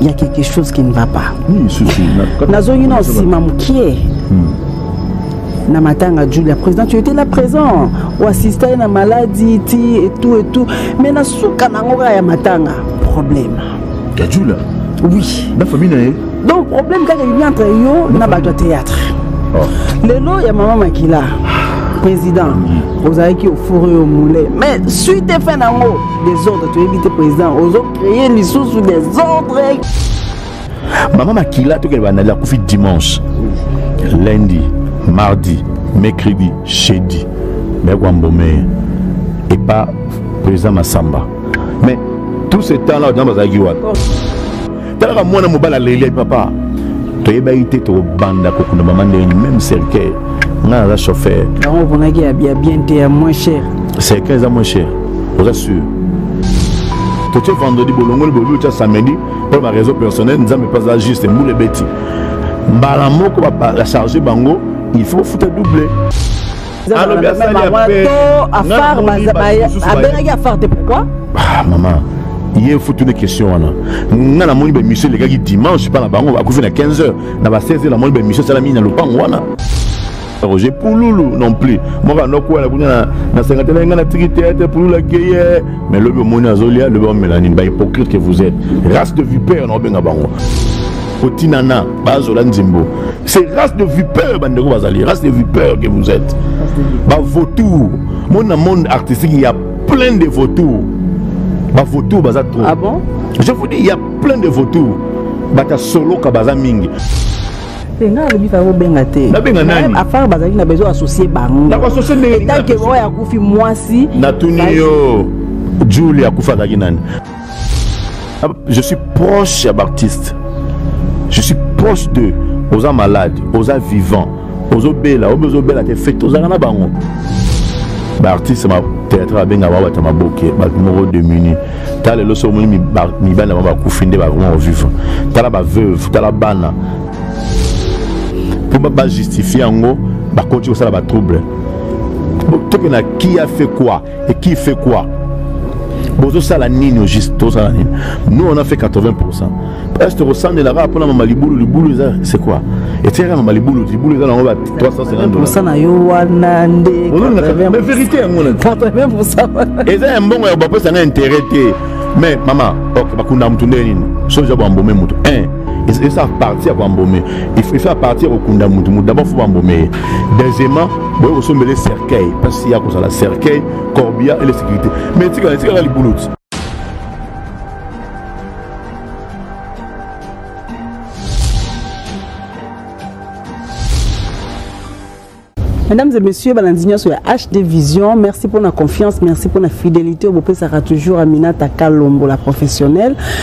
il y a quelque chose qui ne va pas nazongi na nsima mokie hmm. na matanga julia président tu étais là présent oassista ye na maladi ti etout etout mais na suka na yango kaka ya matanga problème ya julia oui na famille na ye donc problème kaka ebi entre yo na bato ya théâtre oh. lelo ya mama makila président hmm. ozalaki ofuri yo moule mais suite efe na yango desordre toyebi te président ozo créer lisusu desordre mama makila tokende bandali akufi dimanche lundi mardi mercredi jeudi meko ambomeye epa président masamba mais tout ce temps là odina bazalaki wapi talaka mwana mobali aleli papa toyebaki te tokobanda kokunda mama ndenge meme cercueil ngai naza chauffeur yango oponaki ya bien te ya moins cher cercueil eza moins cher oza sûr totie vendredi bolongoli bobi otya samedi mpo na bareseau personnel nzambe mpe aza juste mbula ebeti mbala moko bacharge bango il faut ofuta double alobi asali appel abengaki afar te pourquoi ah, mama ye fo tuna question wana nga namoni bamission elekaki dimanche epa na bango bakufi na 15 heures na ba 16 heures namoni bamission esalami na lopango wana roger pululu non plus moko anokwela kuna na sengate na ye ngai natiki teatre pululu akeye mais lobi omoni azolia lobi omela nini bahypocrite que vous êtes race de vipère na obenga bango kotinana bazola nzembo c'est race de vipeur bandeko bazali race de vipeur que vous êtes bavautour mona monde artistique ya plein de vautour bavautour baza trop ah bon? je vous dis ya plein de vautour bata soloka baza mingi te nga alobi fa kobenga te nabenga nani afar bazalaki na besoin associe bango nakoassocie ndenge etanke oyo akufi mwasi natuni yo juli akufakaki nani Ah, je suis proche ya baartiste je suis proche de oza malade oza vivant ozobela oyo ozobela te fete ozalaka na bango baartiste théâtre abenga bango bato ya maboke bato moko demuni ta lelo so omoni mibali na bango bakufi nde bakoma kovivre tala baveuve tala bana mpo bajustifie yango bakonti kosala batrouble toke na qui a fait quoi et qui fait quoi bozosala nini au juste tozosala nini nous on a fait 80 pourcent est tokosandelaka mpona mama libulu libulu eza c'est quoi etiaka mama libulu libulu eza nango ba 350 na yo wana nde vérité yango eza ya mbongo ya bapesa nga intérêt te mais mama ok bakunda motu nde nini soja bambome motu 1 esa parti ya koambome il faut parti ya kokunda motu motu d'abord fo bambome ye deuxièmement boye kosombele cercueil mpasi ya kozala cercueil corbia et la sécurité mais etikala etikala libuluti Mesdames et messieurs, balandi nyoso ya HD Vision, merci pour la confiance, merci pour la fidélité. Bopesaka toujours Aminata Kalombo la professionnelle.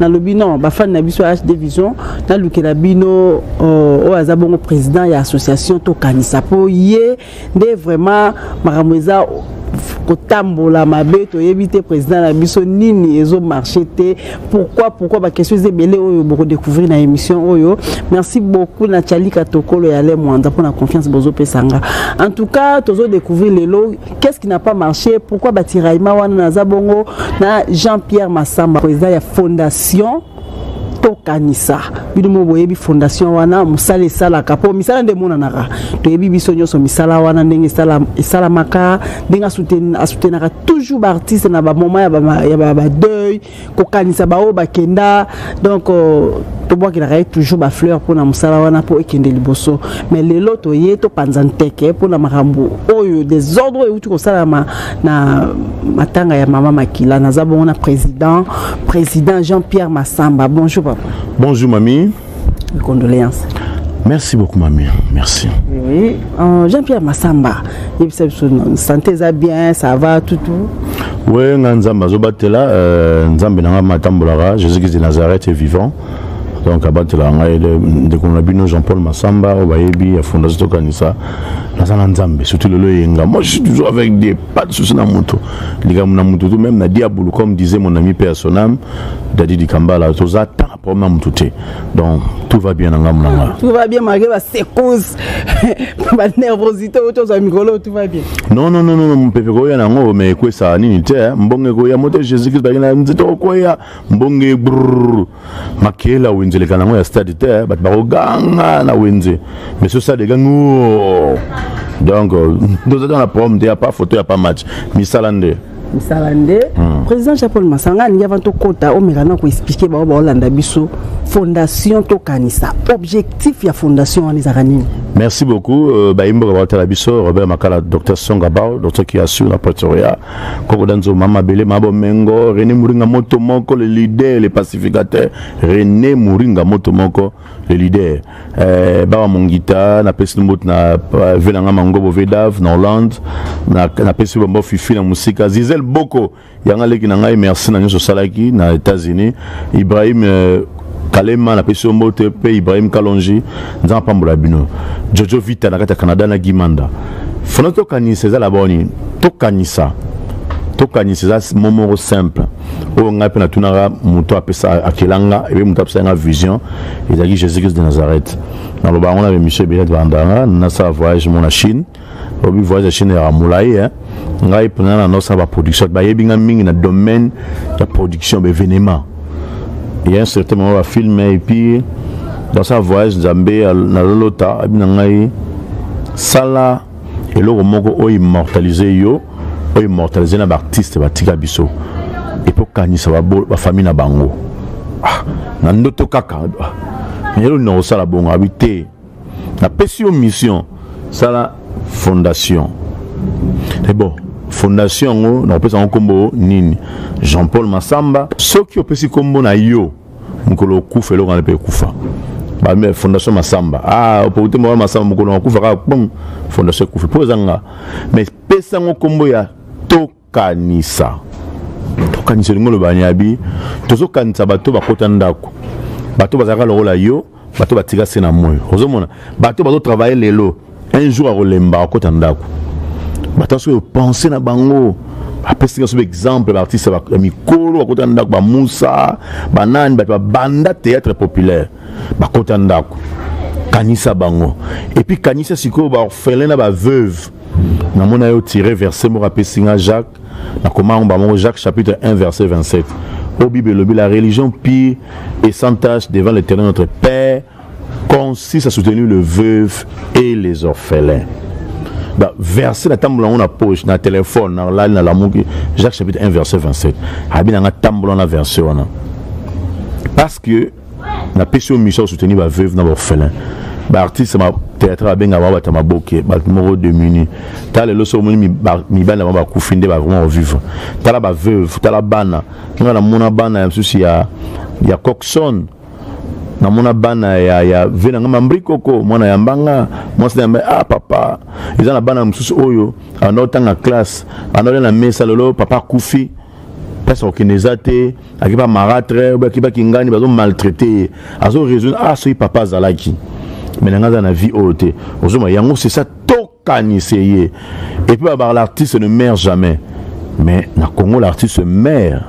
nalobi non bafani na biso ya hd vision nalukela bino euh, oyo aza bongo président ya association tokanisa mpo ye nde vraiment makambo eza kotambola mabe toyebi te président na biso nini ezo marché te pourquoi pourquoi baquestion eza ebele oyo bokodécouvrir na émission oyo merci beaucoup na chalika tokolo ya le mwanda mpo na confiance bozopesa nga en tout cas tozo découvrir lelo qu'est-ce qui n'a pas marché pourquoi batiraillement wana naza bongo na jean pierre masamba président ya fondation tokanisa bino mo boyebi fondation wana mosala esalaka mpo misala nde emonanaka toyebi biso nyonso misala wana ndenge esalamaka ndenge asutenaka toujours baartiste na bamoma ya badeuil kokanisa baoyo bakenda donc euh, tobwakelaka ye toujours bafleur mpo na mosala wana mpo ekende liboso mais lelo toye topanza nteke mpo na makambo oyo desordre oyo euti kosalama na matanga ya mama makila naza bongo na président président jean pierre masamba bonjour papa bonjour mami Mes condoléances. Merci beaucoup, mamie. Merci. Oui. Euh, Jean-Pierre Massamba, il santé ça bien, ça va, tout, tout. Oui, nga nzambe azobatela euh, nzambe na nga matambolaka jésus christ de nazareth est vivant donc abatela ngai ndeko na bino jean paul masamba oyo bayebi ya fondation tokanisa naza na nzambe surtout lelo eyenga moi je suis toujours avec dieu pas de souci na moto likambo na moto to même na diabulu comme disait mon ami père sonam dadi dikambala toza temps problème na motu te donc tout va bien na ngambo na nga tout va bien malgré ba secousse ba nervosité oyo tozwa mikolo tout va bien non non non non mopepe koya na yango mais ekwesa nini te eh. mbongo ekoya moto jésus christ bakenda nzete okoya mbongo ebrr makela wenze eleka na yango ya stade te eh. bato bakoganga na wenze mais so stade egangi oh. donc euh, tozata na problème te ya pa photo ya pa match misala nde misala nde hmm. président jean paul masanga alingi avant tokɔta omeka na koexplike bango baolanda biso fondation tokanisa objectif ya fondation wana ezalaka nini merci beaucoup euh, bayimboka baotala biso robert makala docteur songabao docteur kiasu na pretoria kokoda nzo mama bele mabo mengo rené moringa moto moko le leader le pacificateur rené moringa moto moko le leader euh, bawa mongita napesi mbote na euh, ve na ngai mangobo vedave na hollande napesi bambo fifi na mosika zizel boko yanga leki na ngai merci na nyonso osalaki na états-unis ibrahim euh, kalema napesi yo mbote mpe ibrahim kalonji nzambe apambola bino jojo vita na kati ya canada na gimanda fana tokanisa eza laba nini tokanisa tokanisa eza momoro simple oyo ngai mpe natunaka moto apesa akela nga ebe moto apesa nga vision ezalaki jésus christ de nazareth naloba yango na bemission ebele tolanda nga nasala voyage mo na chine obi voyage ya chine yaka molai eh. ngai mpena na nosala baproduction bayebi nga mingi na domaine ya production baévénement ya un certain moment bafilme eh, epuis dans sa voyage nzambe nalolota abi na ngai sala eloko moko oyo immortalise yo oyo immortalise na baartiste batika biso epe okanisa bafamille na bango ah, na ndoto kaka yelo na kosala bongo abi te napesi yo mission sala fondation e bon fondation yango nakopesa yango nkombo nini jean paul masamba soki opesi nkombo na yo mokolo okufa eloko wana mpe ekufa bame fondation masamba ah opokute moko masamba mokolo akufa kaka pom fondation ekufi mpo eza nga mais pesa yango nkombo ya tokanisa tokanisa elingi oloba niabi tozokanisa bato bakota ndako bato bazalaka lokola yo bato batika se na moi ozomona bato bazotravaille lelo un jour akolemba akota ndako bato soki opense na bango apesi nga soki exemple baartiste ya mikolo bakota ndako bamusa banani bato babanda théâtre populaire bakota ndako kanisa bango epuis kanisa sikoyo baorphelin na baveuve namona yo tire verse moko apesi nga jacques nakoma yango bamoko jacques chapitre 1 verset 27 oyo bible elobi la religion pire et sans tache devant l'éternel notre père consiste à soutenir le veuve et les orphelins ba verset natambola yango na poche na telefone nalali nalamuki jacques chapitre 1 verset 27 abi nanga tambola na verset wana parce que na pesi yo mission soutenir ba veuve na ba orphelin ba artiste ma théâtre abenga ba bata maboke ba moko de muni ta lelo so moni mi bana ba kufi nde ba vraiment vivre tala ba veuve tala bana nga na mona bana ya msusi ya ya Coxon na mona bana ya ya vena nga mambri koko mwana ya mbanga mwasi na yamba ah papa eza na bana msusu oyo ana otanga classe ana na mesa lelo papa kufi place akokende eza te akiba maratre obe akiba kingani bazo maltraite ye azo raisonne ah soki papa azalaki me nanga aza na vie oyo te ozoma yango c'est ça tokanise ye epuis babaka l'artiste ne mare jamais mais na congo l'artiste mare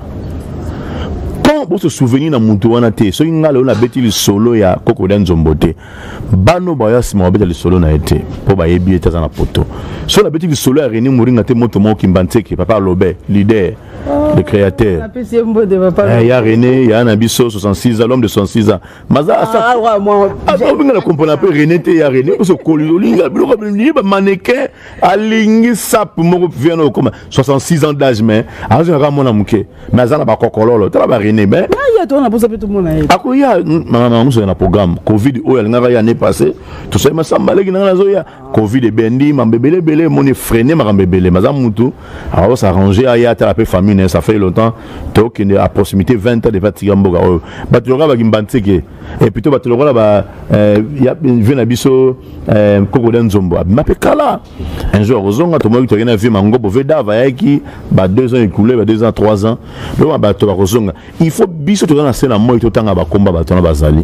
quand bose souvenir na moto wana te soki ngai lelo nabeti lisolo ya kokoda nzombo te bana oyo baya nsima babeta lisolo na ye te mpo bayebi ye te aza na poto so nabeti lisolo ya reni moringa te moto moko kimba nseke papa alobe lider le créateur eh, ya rene ya na biso 66 ans l'homme de 66 ans maza ah, obinga na kompona mpe rene te ya rene oso koli olinga biloko bamane ke alingi sap moko vient na okoma 66 ans d'âge mais azonga kaka mwana moke mais aza na bakokololo tala barene mais akoya mamusoya na programme covid oyo alingaka ye année passé tosali masamba leki nanga nazoya covid ebendi mambo ebele ebele emoni freine makambo ebele maza mutu awa s'arrange aya atala mpe famille naye ça fait longtemps tokende à proximité 20 ans depa tika mboka oyo bato yoka bakimba nteke et plutôt bato lokola ba euh, ya vie na biso euh, kokoda nzombo abima mpe kala un jour akozonga tomoki toyaki na vie mangobo ve dava ayaki ba deux ans écoulé ba deux ans trois ans donc bato bakozonga il faut biso toza na se na moi totanga bakomba bato wana bazali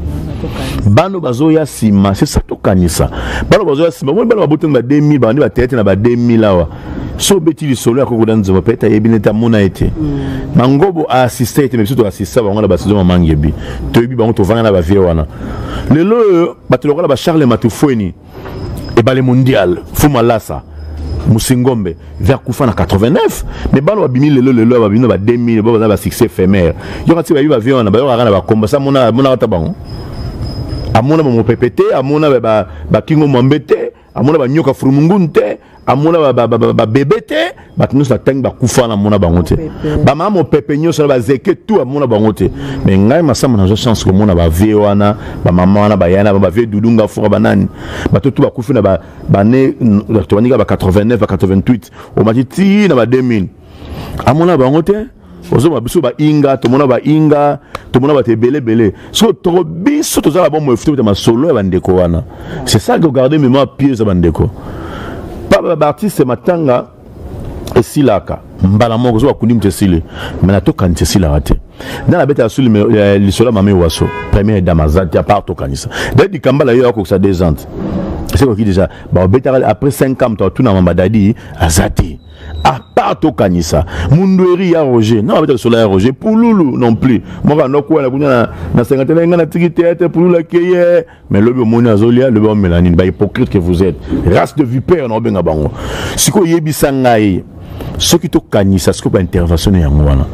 bano bazoya nsima sesa tokanisa bano bazoya nsima omoni bana babotani ba 2000 bandi bateyate na ba 2000 awa so obeti lisolo ya koko na nzembo peut-être ayebi nete amona ye te mangobo aassiste ye te me biso toassista bango na basizo mamangi ebi toyebi bango tovanda na bavie wana lelo oyo bato lokola ba charles matufueni ebale mondial fumalasa musingombe vers kufa na 89 mais bana babimi lelo lelo babimi na ba 2000 bo baza ba succès éphémère yoka ti bayebi bavie wana bayokaka na bakomba sa mona amonaka ta bango amona bamopepe te amona bakingo mwambe te amona banyoka furumungunu te amona babebe te bato nyonso natangi bakufa wana amona bango te bamama mopepe nyonso na bazeke tu amona bango te me ngai masamba nazwa chance komona bavie wana bamama wana bayana bavie dudunga fora banani bato tu bakufi na bane tobandika ba 89 ba 88 omati ti na ba 2000 amona bango te ozoba biso bainga tomona bainga tomona bato ebele ebele soki toko biso tozala bomoi fiti kota masolo ya bandeko wana c'est ça que garde mémoire pieuse ya bandeko papa baartiste matanga esilaka mbala moko ozoba kundi moto esili mai natokanisa esilaka te nde nabetaka su eh, lisolo ya mami waso première dame aza te apart tokanisa de likamba na yo akokisa deux ans esekoki déjà baobetaka après 5 ans moto atunama badadi aza te à part tokanisa mundueri ya roger na babeta lisolo ya roger pululu non plus moko anokwela kuna na sengate na ngai natiki teatre pululu akeye mais lobi omoni azolia lobi omela nini bahypocrite que vous êtes race de vipère na obenga bango sikoyo yebisa ngai soki tokanisa sikoyo baintervention na yango wana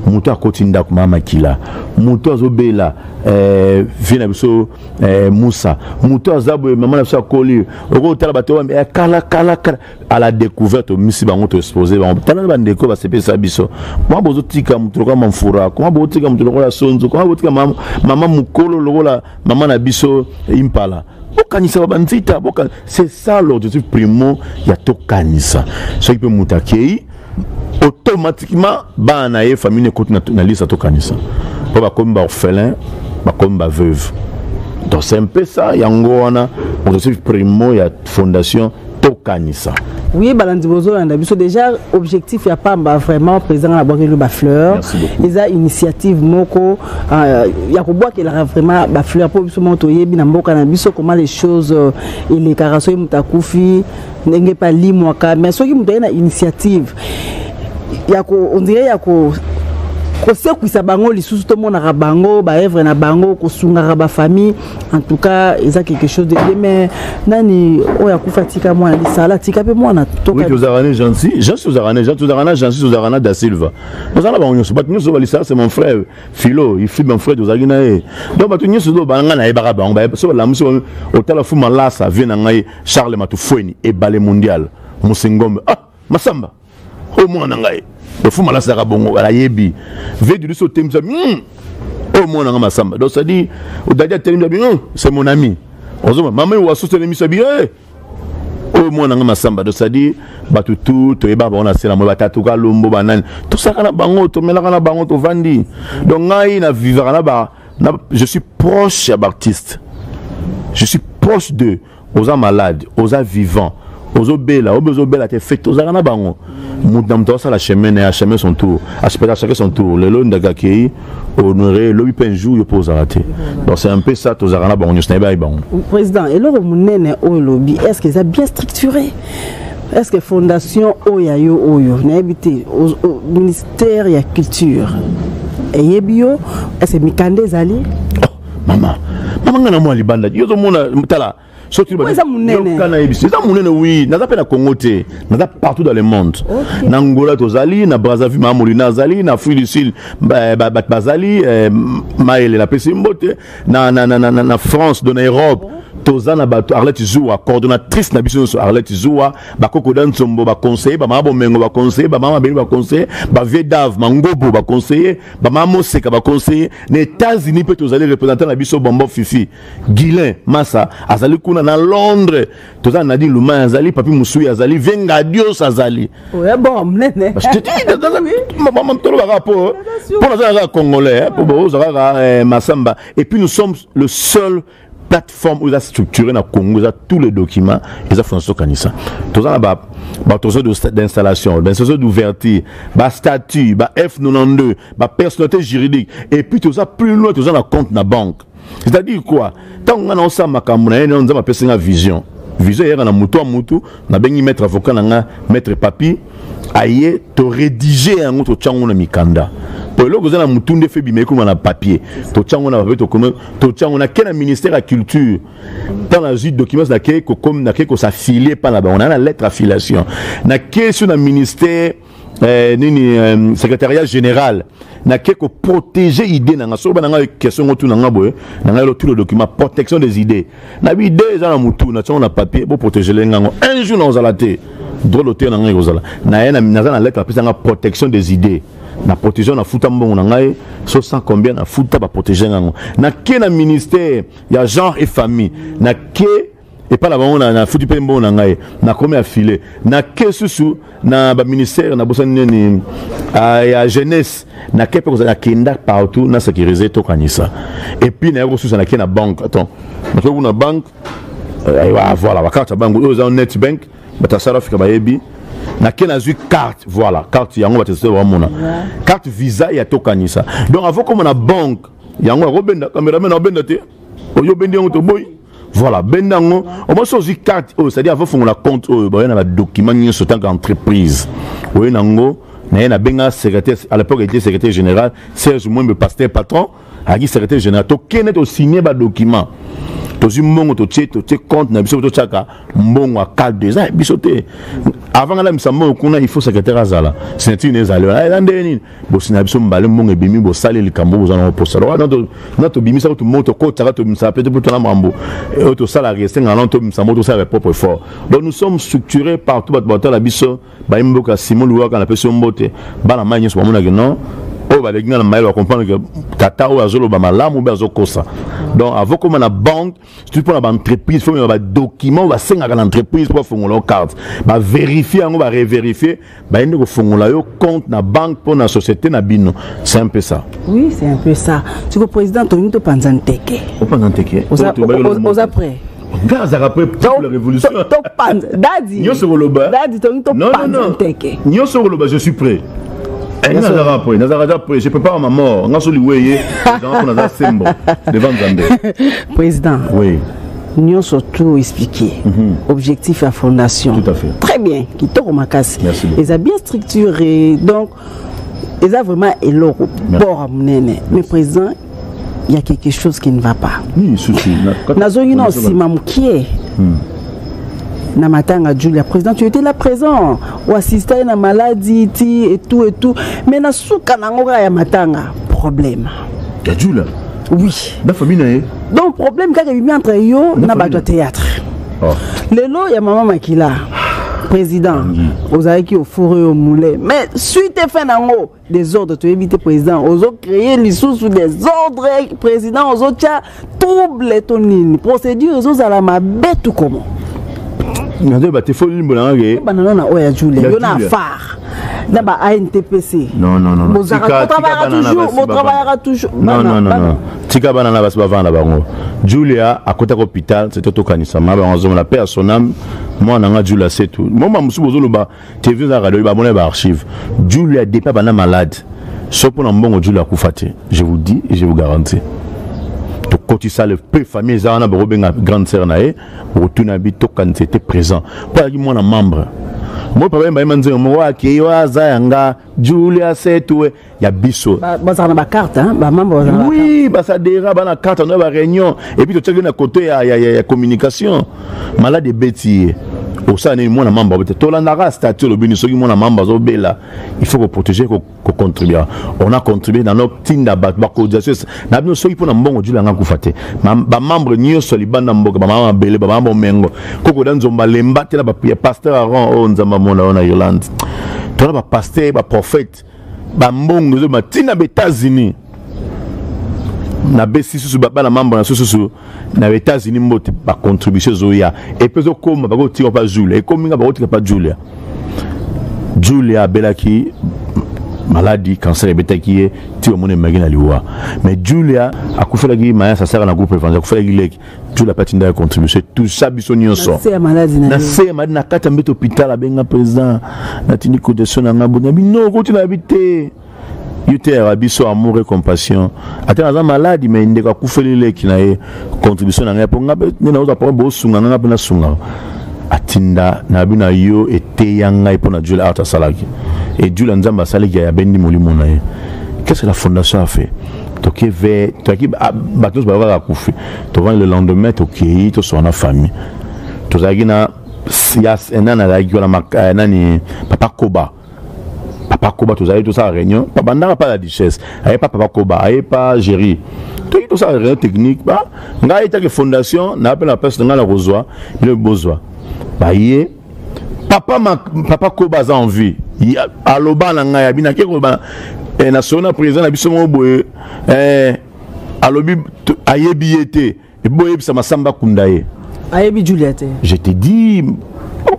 moto akoti ndako mama makila moto azobela eh, vie na biso eh, musa moto aza boye mama na biso akoli okotala bato ya eh, kala kala kala à la découverte omisi bango to expose bango tala na bandeko basepelisa biso koma bozotika moto lokola mamfura koma botika moto lokola sonzo koma botika mama mokolo lokola mama na biso impala bokanisa babanzita c'est ça l'objectif primo ya tokanisa soki mpe moto akei automatiquement bana na ye famille ekoti na lisa tokanisa mpo bakomi baorphelin bakomi baveuve donc c'est un peu ça yango wana motosi primo ya fondation tokanisa oui balandi bozolanda biso déjà objectif ya pamba vraiment président na bwakeli bafleur eza initiative moko euh, ya kobwakelaka vraiment bafleur mpo biso moko toyebi na mboka na biso comment les choses euh, elekaka soki moto akufi ndenge pe alimwaka mais soki moto aye na initiative ya ko on dirait ya ko kosekwisa bango lisusu tomonaka bango baevre na bango kosungaka bafamille en tout cas eza quelque chose de bien mais nani oyo akufa atika mwana lisala atika mpe mwana tozalaka ne gensi gensi ozalaka ne gensi ozalaka na gensi ozalaka na da silva oza na bango nyonso bato nyonso balisala c'est mon frère philo ifi mon frère tozalaki na ye donc bato nyonso oyo banga nayebaka bango so balamusi otala fu malasa vie na ngai Charles Matufueni ebale mondial Musengombe ah Masamba oyo mwana na ngai lofuma alasaka bongo alayebi vedu liso otemisa hmm. oyo mwana ngai Masamba donc cestadire odadi atelemisa bi hmm, c'est mon ami ozoma mama wasu telemisa bi eh. oyo mwana ngai Masamba donc cestadire bato tu toyebaka bango na sela moi batatuka lombo banani tosaka na bango tomelaka na bango tovandi donc ngai na vivaka na ba Na, je suis proche ya b'artiste. Je suis proche de oza malade, oza vivant, ozobela, obe ozobela te fete ozalaka na bango. Moto na moto asala chemin na ya chemin son tour, aspeka chacun son tour. Lelo ndaka kei honoré lobi pe un jour yo po ozala te. Donc c'est un peu ça tozalaka na bango nyos na ba bango. Président, eloko munene oyo lobi, est-ce que ça bien structuré? Est-ce que fondation oyo ya yo oyo nayebi te terre ya culture eyebi yo ese mikanda ezali oh, mama mama ngai na mwa libanda yo ozomona tala soki eza monene wi naza mpe na congo te naza partout dans le monde na angola tozali na brazzaville mamolina azali na afrique du sud bato bazali eh, mayele napesi mbote na france do na europe oh. toza na bato arlette zuwa coordonnatrice na biso nyonso arlette zuwa bakoko da nsombo baconseille bamama bomengo baconseille bamama mabele baconseille bavie dave mangobo baconseille bamama moseka baconseille na états-unis mpe tozali représentant na biso bombo fifi guilin masa azali kuna na londres toza na nadine lumai azali papi mosui azali vengadios azali tolobaka mpo mpo naza kaka congolais mpo bozalaka masamba et puis nous sommes le seul plateforme oyo eza structuré na congo eza tous les documents eza fona sokanisa toza na batroso d'installation bainstallation d'ouverture bastatut ba f92 bapersonnalité juridique et puis toza plus loin toza na compte na banque c'est-à-dire quoi ntango ngai naosala makambo na ye nzambe apesi ngai vision vision eyaka na motu ya motu nabengi maître avocat na nga maître papi aye toredige yango totya yango na mikanda mpo eloko eza na motu nde fe bima ekoma na papier totya yango na papier tokoma totya yango nake na ministère ya culture ntango nazwi documents nake kokomi nake kosafilie mpa na bango naa na lettre affiliation nake so na ministère eh, nini eh, secrétariat général nake koprotege idée na nga soki bana ngai question ngo tuna nga boye na ngai lotu le document protection des idées na bi idée eza na mutu na tiongo na papier boprotege le ngango un jour nakozala te drôle oteyo na ngai ekozala naye naza na lettre apesa nga protection des idées na protection na futa mbongo na ngai so sans combien na futa baprotege ngango nake na ministère ya genre et famille nake epai na bango nafuti mpe mbongo na ngai nakomi afile nake susu na baministère nabosani nini ah, ya jeunesse nake mpe kozala nakenda partout na sécurise tokanisa epuis naye kosusa nake na banque attends nake kuna banque eh, voilà bakarte ya banque oyo eza net bank bato ya south africa bayebi nake nazwi carte voilà carte yango bato ya bamona carte visa ya tokanisa donc avokoma na banque yango akobenda cameraman akobenda te oyo obendi yango toboyi voilà benda yango omwasi ozwi carte oyo cestadire avo fongola compte oyo baye na badocument nyonso ntanka entreprise oye na yango naye nabenga secrétaire à l'époque était secrétaire général serge mwembe pasteur patron ayaki secrétaire général tokende tosigne badocument tozwi mbongo totie totie compte na biso totyaka mbongo ya calde eza biso te avant nga nabimisa mbongo kuna il faut secrétaire azala signature na ezali wana eza ndenge nini bosi na biso mbale mbongo ebimi bosali likambo boza nango mposa na tobimisa kutu moko tokotaka tobimisa mpe mpo tona mambo eh, oyo tosalaka esengaka nano tobimisa moko tosalaka propre effort donc nous sommes structuré partout bato batala biso bayi mboka ya simon luwaka napesi yo mbote bana mai nyonso bamonaki non oyo baleki nga na mayele bakomprendre ke tata oyo azoloba malamu mpe azokosa donc avokoma na banque surtout mpo na baentreprise fomema badocument oyo basengaka na entreprise mpo bafongola yo carte baverifie yango bareverifie baye nde kofongola yo compte na banque mpo na société na bino c'est un peu ça oui c'est un peu ça siko président tolingi topanza nteke opanza nteke oza prêt nga azalaka mpe pour la révolution topanza dadi nyonso koloba dadi tolingi topanza nteke nyonso koloba je suis prêt Eh, nga nazaka apres nazaka aza apres je prépare ma mort nga so liwe ye ezanga mpo naza sembo devant nzambe président oui nyonso tout expliqué mm -hmm. objectif ya fondation tout à fait très bien kitoko makasi eza bien structuré donc eza vraiment eloko bord ya monene mais président ya quelque chose qui ne va pas nazongi na nsima mokie hmm. na matanga julia président tu étais là présent oassista ye na maladi ti et tout et tout mais na suka na yango kaka ya matanga problème ya julia oui na famille na ye donc problème kaka ebimi entre yo na bato ya théâtre oh. lelo ya mama makila président ozalaki ofure yo moule mais suite efe na yango desordre toyebi te président ozo créer lisusu desordre président ozotya trouble to nini procédure ezozala mabe tu comment nazoyeba te fo limbola nga ke banano na oyo ya jule yo na afar na ba antpc botravayaka toujours tika bana na basi bavanda bango julia akotaka hôpital sete tokanisama bango azomona mpe ya sonam mwana nga julia setu moma mosusu bozoloba TV za radio ba mona ba archive. Julia depa bana malade. Sauf pour mbongo Julia akufa te. Je vous dis et je vous garantis. To kotisa le peu famille za wana boko benga grande sœur na ye, retourna bi to quand c'était présent. Pas ki mwana membre. Moi papa mba manzo mo wa ki wa za yanga Julia setue ya biso bazala na bacarte bamambre bazala oui basadera bana carte yango ya baréunion epuis totyaki na kote ya, ya, ya, ya communication malade ebeti ye osala nini mwana mamba bote tolandaka statut olobi ni soki mwana mamba azobela il faut koprotege kocontribue on a contribue na notinda bato bacotisation na bino soki mpo na mbongo jula yanga kufa te bamembre nyonso libanda mboka bamama mabele bamama bomengo kokoda nzomba lemba te na ya pasteur aron oyo oh, nzambe amona oyo na yolande tona bapaster baprofete ba mbongo ezo ma tina ba États-Unis na besi susu bana mambo na susu na États-Unis mbote ba contribution zoya et puis okoma ba kotika pa Julia et comme nga ba kotika pa Julia Julia belaki maladi cancer ebetaki ye ti omoni emaki na liwa mais julia akufelaki mayasa asaka na groupe evangel akufelaki leki jula mpe atindaka contribution tousa biso nyonso na se ya maladi na kati ya mbeto hôpital abenga président natindi cotisation na ngai bonabi no okoti na bi te yo teyaka biso amour et compassion ata naza maladi mai ndeko akufeli leki na ye contribution na ngai mpo ngai mpe nde naoza mpo bosunga ngai mpe nasungaka atinda na bino na yo eteya ngai mpo na jule art asalaki ejule nzambe asalaki ya yabendi molimo na ye qu'est ce que la fondation a fait toke ve toyaki ah, bato nyonso bayo kaka kufi tovandi le lendemain tokei tosona na famille tozalaki na eh, nani azalaki wana eh, nani papa koba papa koba tozalaki tosala réunion babandaka mpa la duchesse aye mpa papa koba aye mpa géri toki tosala réunion technique ba ngai etaki fondation naa mpe na place na ngai na kozwa bino bozwa baye papa ma, papa koba aza en vie aloba na ngai abi nake koloba eh, na solo na président na biso moko boye eh, alobi ayebi ye te boyebisa masamba akunda ye ayebi julia te je te dis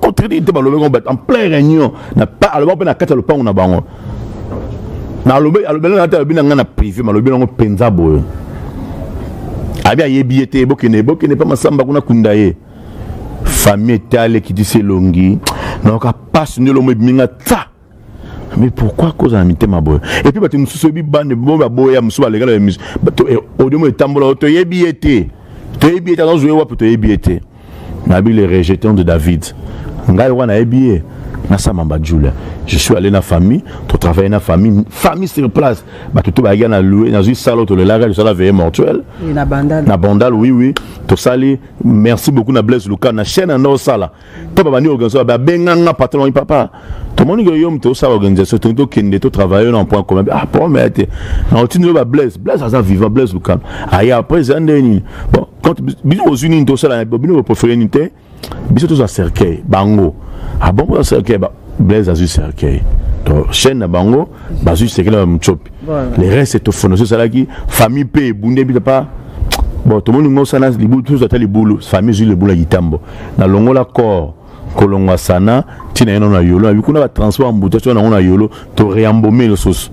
contredit te balobi yango en plein réunion aloba mpe na kati ya lopango na bango nalobi alobela na te alobi na ngai na privé malobi yango mpenza boye abi ayebi ye te bokende bokende mpe masamba kuna kunda ye famille etale kitisi elongi nayoka mpasi nde elongo ebimi nga ta mais pourquoi kozala mitema boye epuis bato mosusu oyebi bande bo baboya mosusu balekala emission eh, audio mo etambola toyebi ye te toyebi ye te azozwa ye wapi toyebi ye te nayebi le rejeton de david ngai wana nayebi ye nasama bajula je suis allé na famille totravaille na famille famille sur place bato to bayaki na loue nazwi sala tolelaka tosala veye mortuel na bandal oui oui tosali merci beaucoup na blaise luka na chaîne anda osala to babandi organisation babenganga patron wangi papa tomoni ke yo moto osala organisation tongi tokende totravaille na point commun ah po mea te na otindi yo bablaise blaise aza vivant blaise luka aye après eza ndenge nini bon quand bino bozwi nini tosala bino boprefere nini te biso tozwa cercueil bango abongo ah, ya cercueil Blaise azwi cercueil to chaîne na bango bazwi cercueil na mutsopi le reste etofono so esalaki famille mpe ebunde bita pa bon tomoni ngo sana libulu tozo ata libulu famille ezwi libulu ya kitambo na longola corps kolongwa sana ntina ye nano na yolo nabi kuna batransport ya mbuta soki nango na yolo to reambome lisusu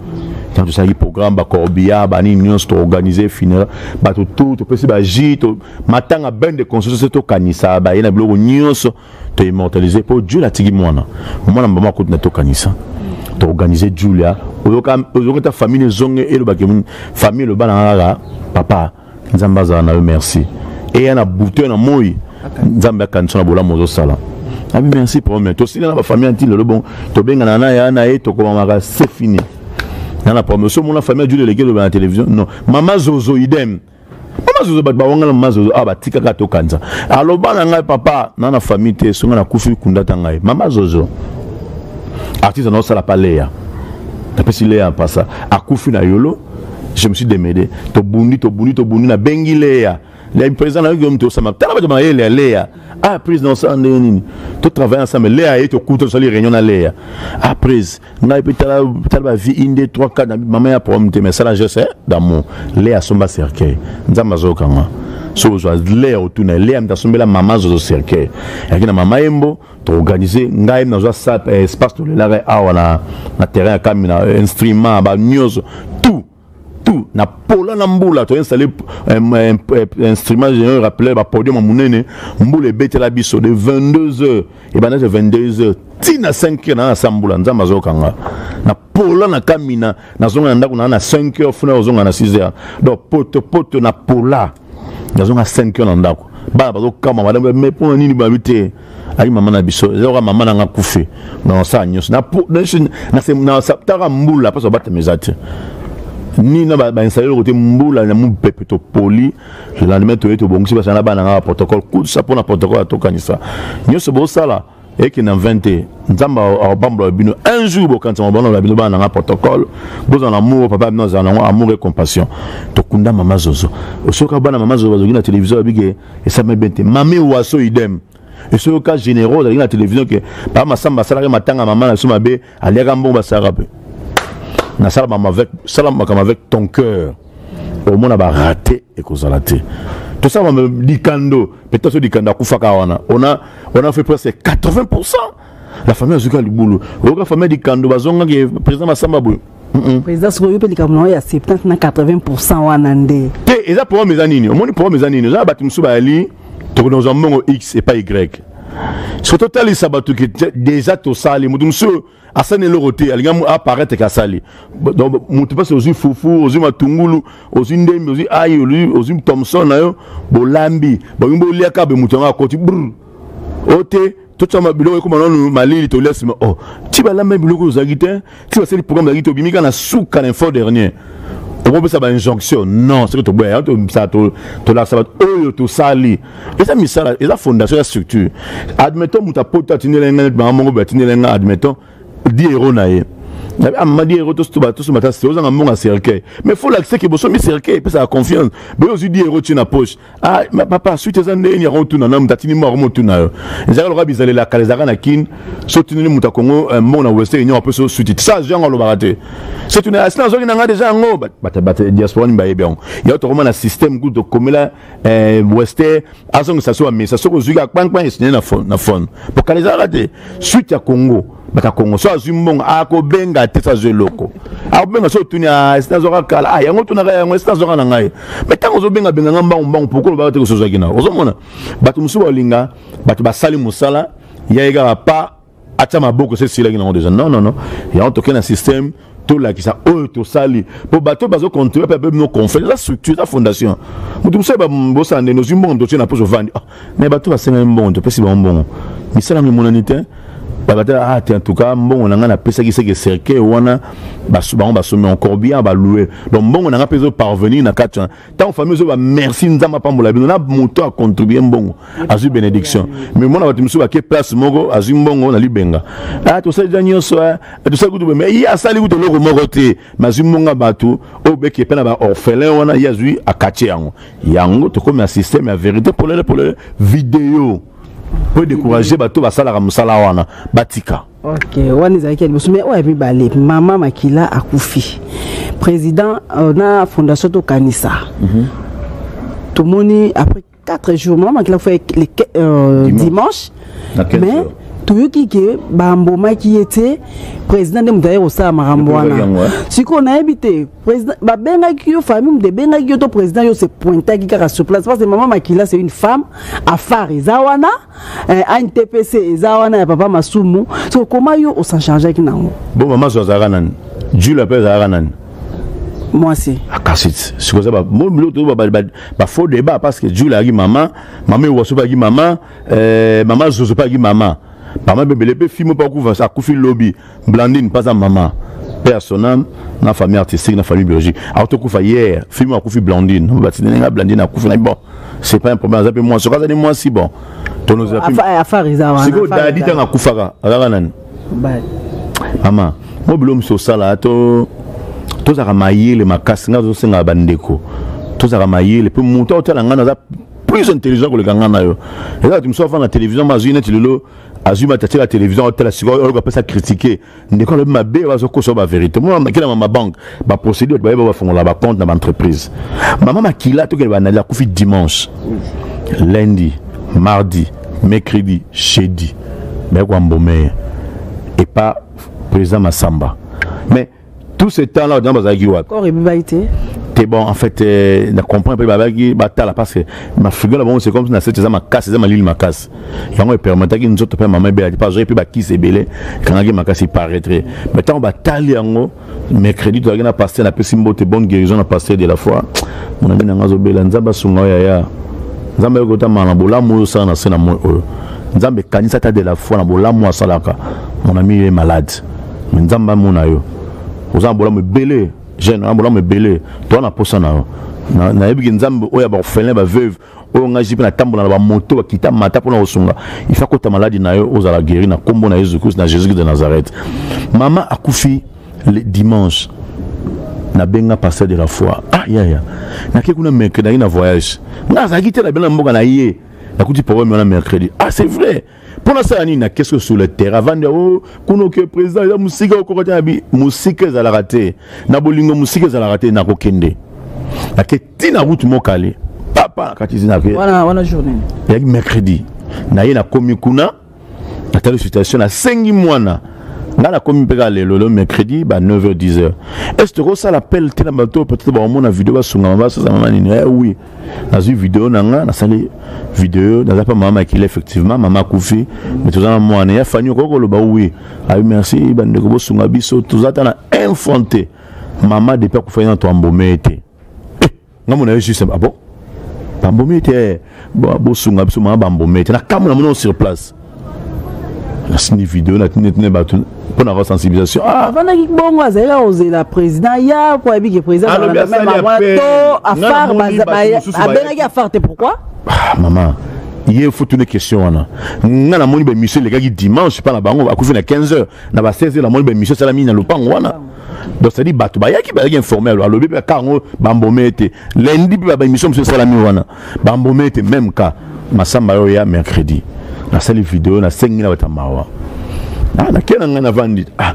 ntango tosalaki programme bacorbia banini nyonso toorganize funérail bato tu topesi baji matanga bain de conscience tokanisa baye na biloko nyonso to immortaliser po Julia tigi mwana mwana mama akuti na tokanisa to organiser Julia oyoka oyoka ta famille zonge eloba ke famille loba na ngala papa nzambe azala na yo merci eya na buto na moi nzambe akanisa na bolamu ozosala abi merci papa mais tosila na bafamille anti lelo bon tobengana na ya na ye tokomamaka se fini nana papa mais so mona famille ajuli eleki eloba na télévision non mama zozo idem mazozo bato bawangana mazozo awa ah, batikaka tokanza aloba na ngai papa na na famille te songa nakufi kundata ngai mama zozo artiste anaosala pa leya napesi leya mpasa akufi na yolo je me suis demede tobundi tobundi tobundi nabengi leya le président nayoki yo moto osama tala bato mayele ya leya ah prise na osala ndenge nini totravaille ensemble leya ye tokuta tosali réunion na leya ah prise ngai mpe tala tala ba vie inde 3 4 mama ya problème te mais sala geste eh, d'amour le asomba cercueil nzambe azokanga so ozwa le ya otuna le ya mta asombela mama azozo cercueil yaki na mama yembo toorganize ngai mi nazwa eh, espace tolelaka awa na, na terrain ya kamina eh, instrument ba nyonso tout tout na pola na mbula to installé euh, euh, euh, instrument général rappelé ba podium ya monene mbula ebetela biso de 22 heures ebandaki 22 heures ti na 5 heures naa sa mbula nzambe azokanga na pola na kamina nazonga na ndako naa na 5 heures funa ozonga na 6 heures donc poto poto na pola nazonga 5 kilo na ndako bana bazokama madame me mpo na nini babi te ayi mama na biso eza kaka mama nanga kufe na nasala nyonso nataka mbula mposo babatama eza te ni na bainstalle eloko te mbula na mopepe topoli lendemain toye tobongisi basala na bana nanga baprotocole kusa mpo na protocole atokanisa nyonso bosala eke na 20 te nzambe akobambola bino un jour bokanisama bana bino bana nanga protocole bozala na amour papa bino azala nango amour et compassion tokunda mama zozo osoyoka bana mama zozo bazoki na télévision babike esame bien te mame waso idem esoyoka généraux ozalaki na télévision ke papa masamba asalaki matanga mama na biso mabe aliaka mbongo basalaka mpe nasala makambo avec sala makambo avec ton cœur omona barate ekozala te tosala makambo likando peut-être so likando akufaka wana ona ona fait presque 80 pourcent la famille azuki ya libulu oyoka famille ya likando bazongaki président masamba boye président soki oyo mpe likambo na oyo ya 70 na 80 pourcent wana nde te eza problème eza nini omoni problème eza nini eza na bato mosusu bayali tokona kozwa mbongo x epai y soki totalisa bato ke deja tosali moto mosusu oyo asali eloko te alingi aparaitre ke asali moto mpasi ozwi fufu ozwi matungulu ozwi ndembi ozwi ai ozwi thomson na yo bolambi balingi boliaka be moto yango akoti brr o te totyama biloko ekoma nanu malili tolia nsima o oh, ti balamba biloko ozalaki te ti basali programme ozalaki te obimi kaka na suka na info dernier okopesa bainjonction non soki toboya yango tobisa tolakisa bato oyo tosali eza misala eza fondation ya structure admettons moto apota atindela ngai neti bango moko boye atindela ngai admettons di hero na ye nabi amadi hero tosomba ta ozanga mbongo ya cercueil mais fo lakisa ke bosomi cercueil epesaka confiance boye ozwi di hero tie na poche ah ma papa suite eza ndenge nini yango otuna na mutatini moko yango motuna yo ezalaka lokola bizalela kala ezalaka na kin so otuneli moto ya kongo eh, mbongo na western union ape so suite sa azwi yango alobaka te so tuna asi nazwaki na ngai deja yango diaspora nini bayebi yango yango tokoma na système kutu tokomela eh, western azongisa so amesa soki ozwiki akpankpan esinye na fone po kala ezalaka te suite ya kongo baka kongo so azwi mbongo akobenga te so azwi eloko akobenga so otuni ah, esi nazwaka kala ah, yango otunaka yango esi nazwaka na ngai me ntango ozobenga benga ngai mbangu mbangu poko olobaka te kosozwaki nao ozomona bato mosusu baolinga bato basali mosala ya ye kaka pa atya maboko se esilaki nango deja non non non yango tokei na système tolakisa oyo tosali mpo bato bazo controle mpe bino confere eza structure eza fondation moto mosusu bosala nde nozwi mbongo totie na poso ovandi ah, me bato basengami mbongo topesi bango mbongo misala yango emonani te babatala ah te en tout cas mbongo na ngai napesaki seke cercueil wana bango basombi en corbillard baloue donc mbongo na ngai mpe ezoparvenir na kati wana ntango famille ozoba merci nzambe apambola bino na moto acontribue mbongo azwi bénédiction mais mona bato mosusu bake place moko azwi mbongo na libenga ah, tosali da nyonso ah, tosali kutu boye mais ye asali kutu eloko moko te mais azwi mbongo ya bato oyo beke mpe na baorphelin wana ye azwi akatie yango yango tokomi na système ya vérité polele polele video mpo décourage bato basalaka mosala wana batika ok wana ezalaki ya liboso mais oyo ya mibale mama makila akufi président euh, na fondation tokanisa mm -hmm. tomoni après 4 jours mama makila akufi le euh, dimanche, dimanche mais toyoki ke bambomaki ye te président nde moto aye kosala makambo wana sikoyo nayebi te babengaki yo famille moto ebengaki yo to président yo se pointaki kaka sur place parce que mama makila c'est une femme afar eza wana eh, antpc eza wana ya papa masumu so koma yo osanchargeaki nango bo mama so azalaka nani jule ape azalaka nani mwasi akasi ah, sikoyo eza biloko tozo bafaux débat parce que jule ayaki mama mama ewaso mpe ayaki mama eh, mama zozo mpe ayaki mama mama bebele mpe fimo mpe akufa akufi lobi Blandine pas à maman paix à son âme na famille artistique na famille biologique alors tokufa hier film akufi Blandine batindeli nga Blandine akufi na bon c'est pas un problème aza pe moi soka azali moi si bon tonozela pe afari za wana siko dadi tanga kufaka azaka nani bye mama mo bilo mosusu osala to tozalaka mayele makasi ngai tozosengaka bandeko tozalaka mayele mpe moto aotala ngai naza plus intelligent koleka ngai na yo eza bato mosusu afanda na télévision ma azwi neti lelo azwi matatie la télévision aotala sikoyo oyoka apesa kritike ndeko alobi mabe bazokosa ba vérité mwana makila ma mabanke baprocédure bayeba bafongola bacompte na baentreprise mama makila tokende banali akufi dimanche lundi mardi mercredi jeudi baye koambomeye epa président masamba mais tout ce temps là odina bazalaki wapi corps ebibaki te te bon en fait euh, na comprend mpe babaki batala parce que mafigure na bango c'est comme si na sete eza makasi eza malili makasi yango epermetaki nzoto mpe mama ebela te mpe azwaki mpe bakisi ebele ekangaki makasi paraître mais ntango batali yango mercredi tozalaki na paster napesi mbote bonne guérison na paster de la foi monami na ngai azobela nzambe asunga oyo yaya nzambe ayoki otamala na bolamu oyo osala na se na moi oyo nzambe ekanisa ata de la foi na bolamu asalaka monami ye malade me nzambe amona yo oza na bolamu ebele jeune na bolamu ebele toa na posa na yo nayebi ke nzambe oyo ya baorphelin baveuve oyo ngai jipe natambola na bamoto bakita mata mpo na kosunga ifa kota maladi na yo ozala guéri na nkombo na yesu christ na jésus christ de nazareth mama akufi le dimanche nabenga pasteur de la foi ah yaya yeah, yeah. nake kuna mercredi nayaki na voyage ngai azalaki te nabenda na mboka na ye nakuti problème wana mercredi ah c'est vrai mpo nasala nini nakesi oyo sur le terrain avandi yango oh, kuna oke président eza mosika okoka te na bi mosika ezalaka te na bolingo mosika ezalaka te nakokende nake ti na route mokale papa na kati zina eyaki mercredi naye nakomi kuna natali situation nasengi mwana nga nakomi mpe kaka lelo lelo mercredi ba 9h 10h est ce tokosala appel te na bato oyo peut-être bakomona video basunga mama basazama manini eh oui nazwi video na nga nasali video naza mpa mama makila effectivement mama akufi me toza na mwana ya fani okoki koloba wi abi merci bandeko bosunga biso toza ata na infante mama depuis akufaki na toambome te eh, nga mona yo juste abo ah bambome te eh, bosunga biso mama bambome te na kambo na mona sur place nasini video natinetine bato mpo na sensibilisation ah! afandaki bongo azali kaka kozela président ya mpo ayebiki président to afar abengaki afar te pourquoi ah, mama ye fotuna question wana nga namoni baémission elekaki dimanche mpa na bango akufi na 15 heures na ba 16 heures namoni baémission esalami na lopango wana donc cetadi bato bayaki bayaki informe alobi mpe kaka yango bambome ete lendi mpe baémission mosusu esalami wana ba mbome te même cas masamba yo ya mercredi nasali video nasengi na bata mawa ah nakie na ngai navandi ah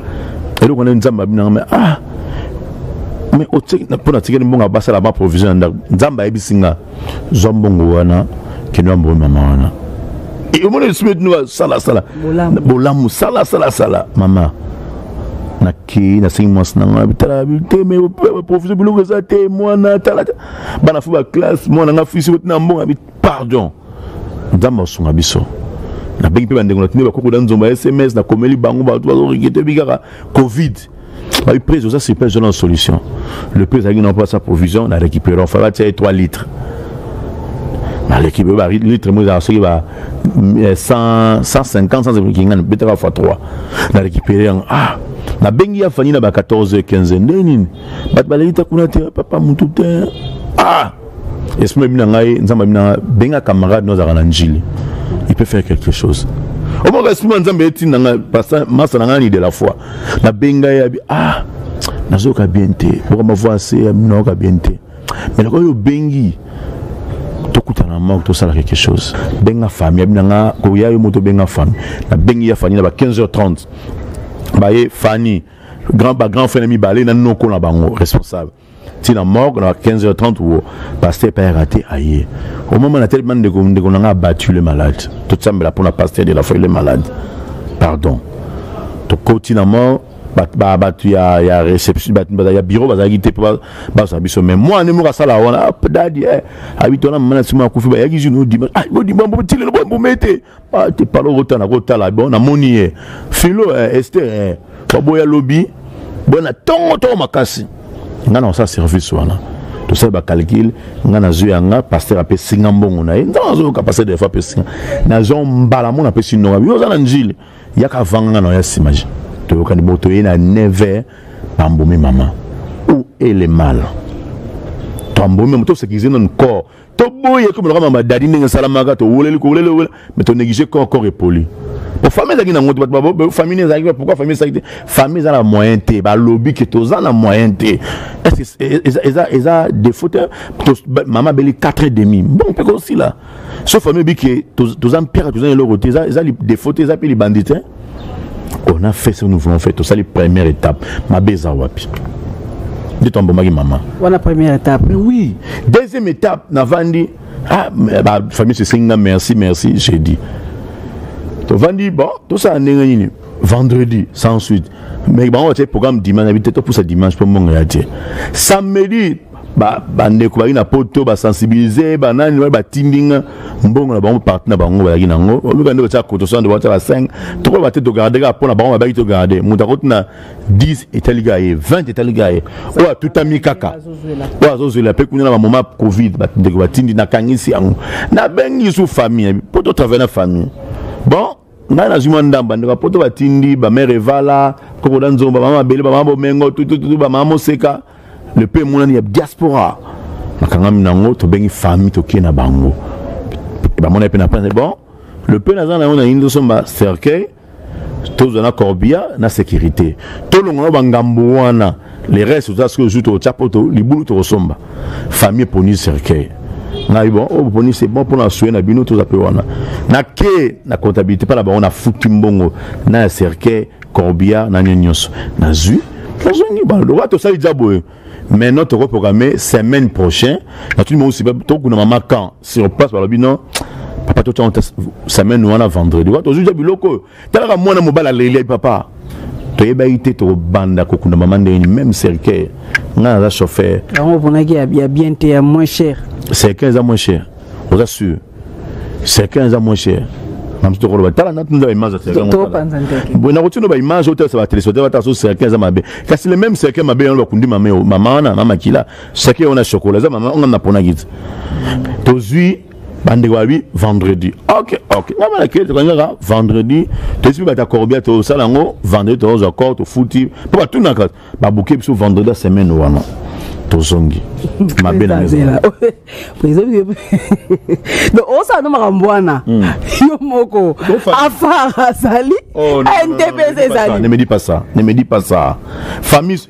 eloko nde nzambe abi nanga ah mais mpo natikeli mbongo abasala ba provision ya ndako nzambe ayebisi nga zwa mbongo wana kende ya mbongo mama wana omoni lisusu beti no salasala bolamu salasalasala mama nakei nasengi mwasi na ngai bitala te me provision biloko eza te mwana tala bana fo ba classe mwana nga fisi ko tina mbonga bi pardon nzambe asunga biso nabengi mpe bandeko na tindi bakoko da nzomba ya sms nakomeli bango bato bazorigete bi kaka covid babi prise oza sur place wana na solution le prise azalaki na mpasa provision na récupérant fala batia ye 3 litres naleki boye balitre moko ezalaka soki ba 150 eh, kinga betaka fois 3 na récupéré yango ah nabengi ya fani na ba 14 15 nde nini bato baleki ta kuna te papa mutu te ah esprit ebi na ngai nzambe abi na ngai benga camarade no azalaka na njili il peut faire quelque chose omaka esprit ma nzambe etinda ngai pasta masa na ngai ni de la foi nabenga ye abi ah nazoyoka bien te bokamba voi ase nayoka bien te mais nakoki obengi tokutana moko tosala quelque chose benga famille abi na ngai koya yo moto benga famille nabengi ya famille na ba 15 h 30 baye fani grand ba grand frère mibale na noko na bango responsable tina morgue na 15h30 wo pasteur pa raté aye au moment na tellement ndeko ndeko na nga battu le malade tout ça mbela pona pasteur de la foi le malade pardon to koti na mort bato ya, ya réception bato ya bureau bazalaki te mpo bazwa biso mais mwana moko asala wana dadi eh, abiti wana mama na nsima akufi bayaki zino odima ah, odima mbo tilelo bomeme te ah, te palo okotana kotala bon namoni ye eh. filo eh, ester eh. baboya lobi boya na ntongo ntongo makasi ngai na kosala service wana tosali bacalcule ngai nazwi ya nga paster apesi nga mbongo na ye nzambe azoyoka paster defa apesi nga nazwa mbala mona apesi nonga bino oza na njili yaka avanga nga na ya nsima je toyokani bo toye na 9 pambomi mama où est le mal pambomi mama tosekize nanu corps toboyi ekomi loka mama dadi ndenge esalamaka towoleli kowoleli owela mais tonéglige corps corps epoli po famille ezalaki nango te bato famille ezalaki pourquoi famille ezalaki te famille eza na moyen te balobi ke toza na moyen te eza défaut te mama abeli 4 et demi bon mpe kosila so famille oyebi ke toza mpeka toza na eloko te eza défaut te eza mpe libandi te on a fait ce que nous voulons faire tosali première étape mabe eza wapi nde toambomaki mama wana première étape mais oui deuxième étape navandi ah, bafamille sesengi nga merci merci j'ai dit tovandi bon tosala ndenge nini vendredi sans suite mais bango batie programme dimanche abi te topusa dimanche mpo mbongo ya te samedi bandeko bazali na poto basensibilize banani wana batindi nga mbongo na bango parti na bango bazalaki na yango omika nde batya koto sande batya ba 5 tokoba te togarde kaka mpo na bango babaki togarde moto akoti na 10 etali kaka ye 20 etali kaka ye oyo atutami kaka oyo azozwela mpe kuna na bamoma covid bandeko batindi nakangisi yango nabengi lisusu famille mpo totravaille na famille bon ngai nazwi mwa ndambo bandeko ya poto batindi bamere evala koko na nzomba bama mabele bama bomengo tutututu bama moseka le pe emonani ya diaspora nakangami nango tobengi famille tokie na bango bamonai mpe na pene bon le pe naza na yango na yini tosomba cercueil tozwa na corbia na sécurité tolongola bangambo wana le reste oza soki ozwi tokotya poto libulu tokosomba famille eponi cercueil ngai bon oyo oh, boponi se bon mpona soye na bino toza mpe wana nake na comptabilité mpa na bango nafuti mbongo na ya cercueil corbillard na nini nyonso nazwi nazongi baloba tosali dza boye maintenant tokoprograme semaine prochain natuni bango sipa tokuna mama camp sur place balobi non papa totyana semaine wana vendredi wa tozwi dza biloko oyo talaka mwana mobali aleli papa toyebaki te tokobanda kokunda mama ndenge nini même cercueil ngai naza chauffeur yango oponaki ya bien te ya moins cher cercueil eza moins cher oza sûr cercueil eza moins cher mamusu tokoloba tala natunda baimage boye nakotino baimage otalisa batelespectateur batala so cercueil eza mabe kasi le même cercueil mabe yango bakundi mama wana na makila cercueil wana ya chokola eza mama onga naponaki te tozwi bandeko babi vendredi ok ok nga bana kele tokangi kaka vendredi toyesi mpe bato ya corbia tosala yango vendredi tokozwa cor tofuti mpo batunaka babuke biso vendredi ya semaine wana tozongi mabe na donc osala no makambo wana hmm. yo moko afar azali ndepesa ezali ne me dis pas ça ne me dis pas ça famille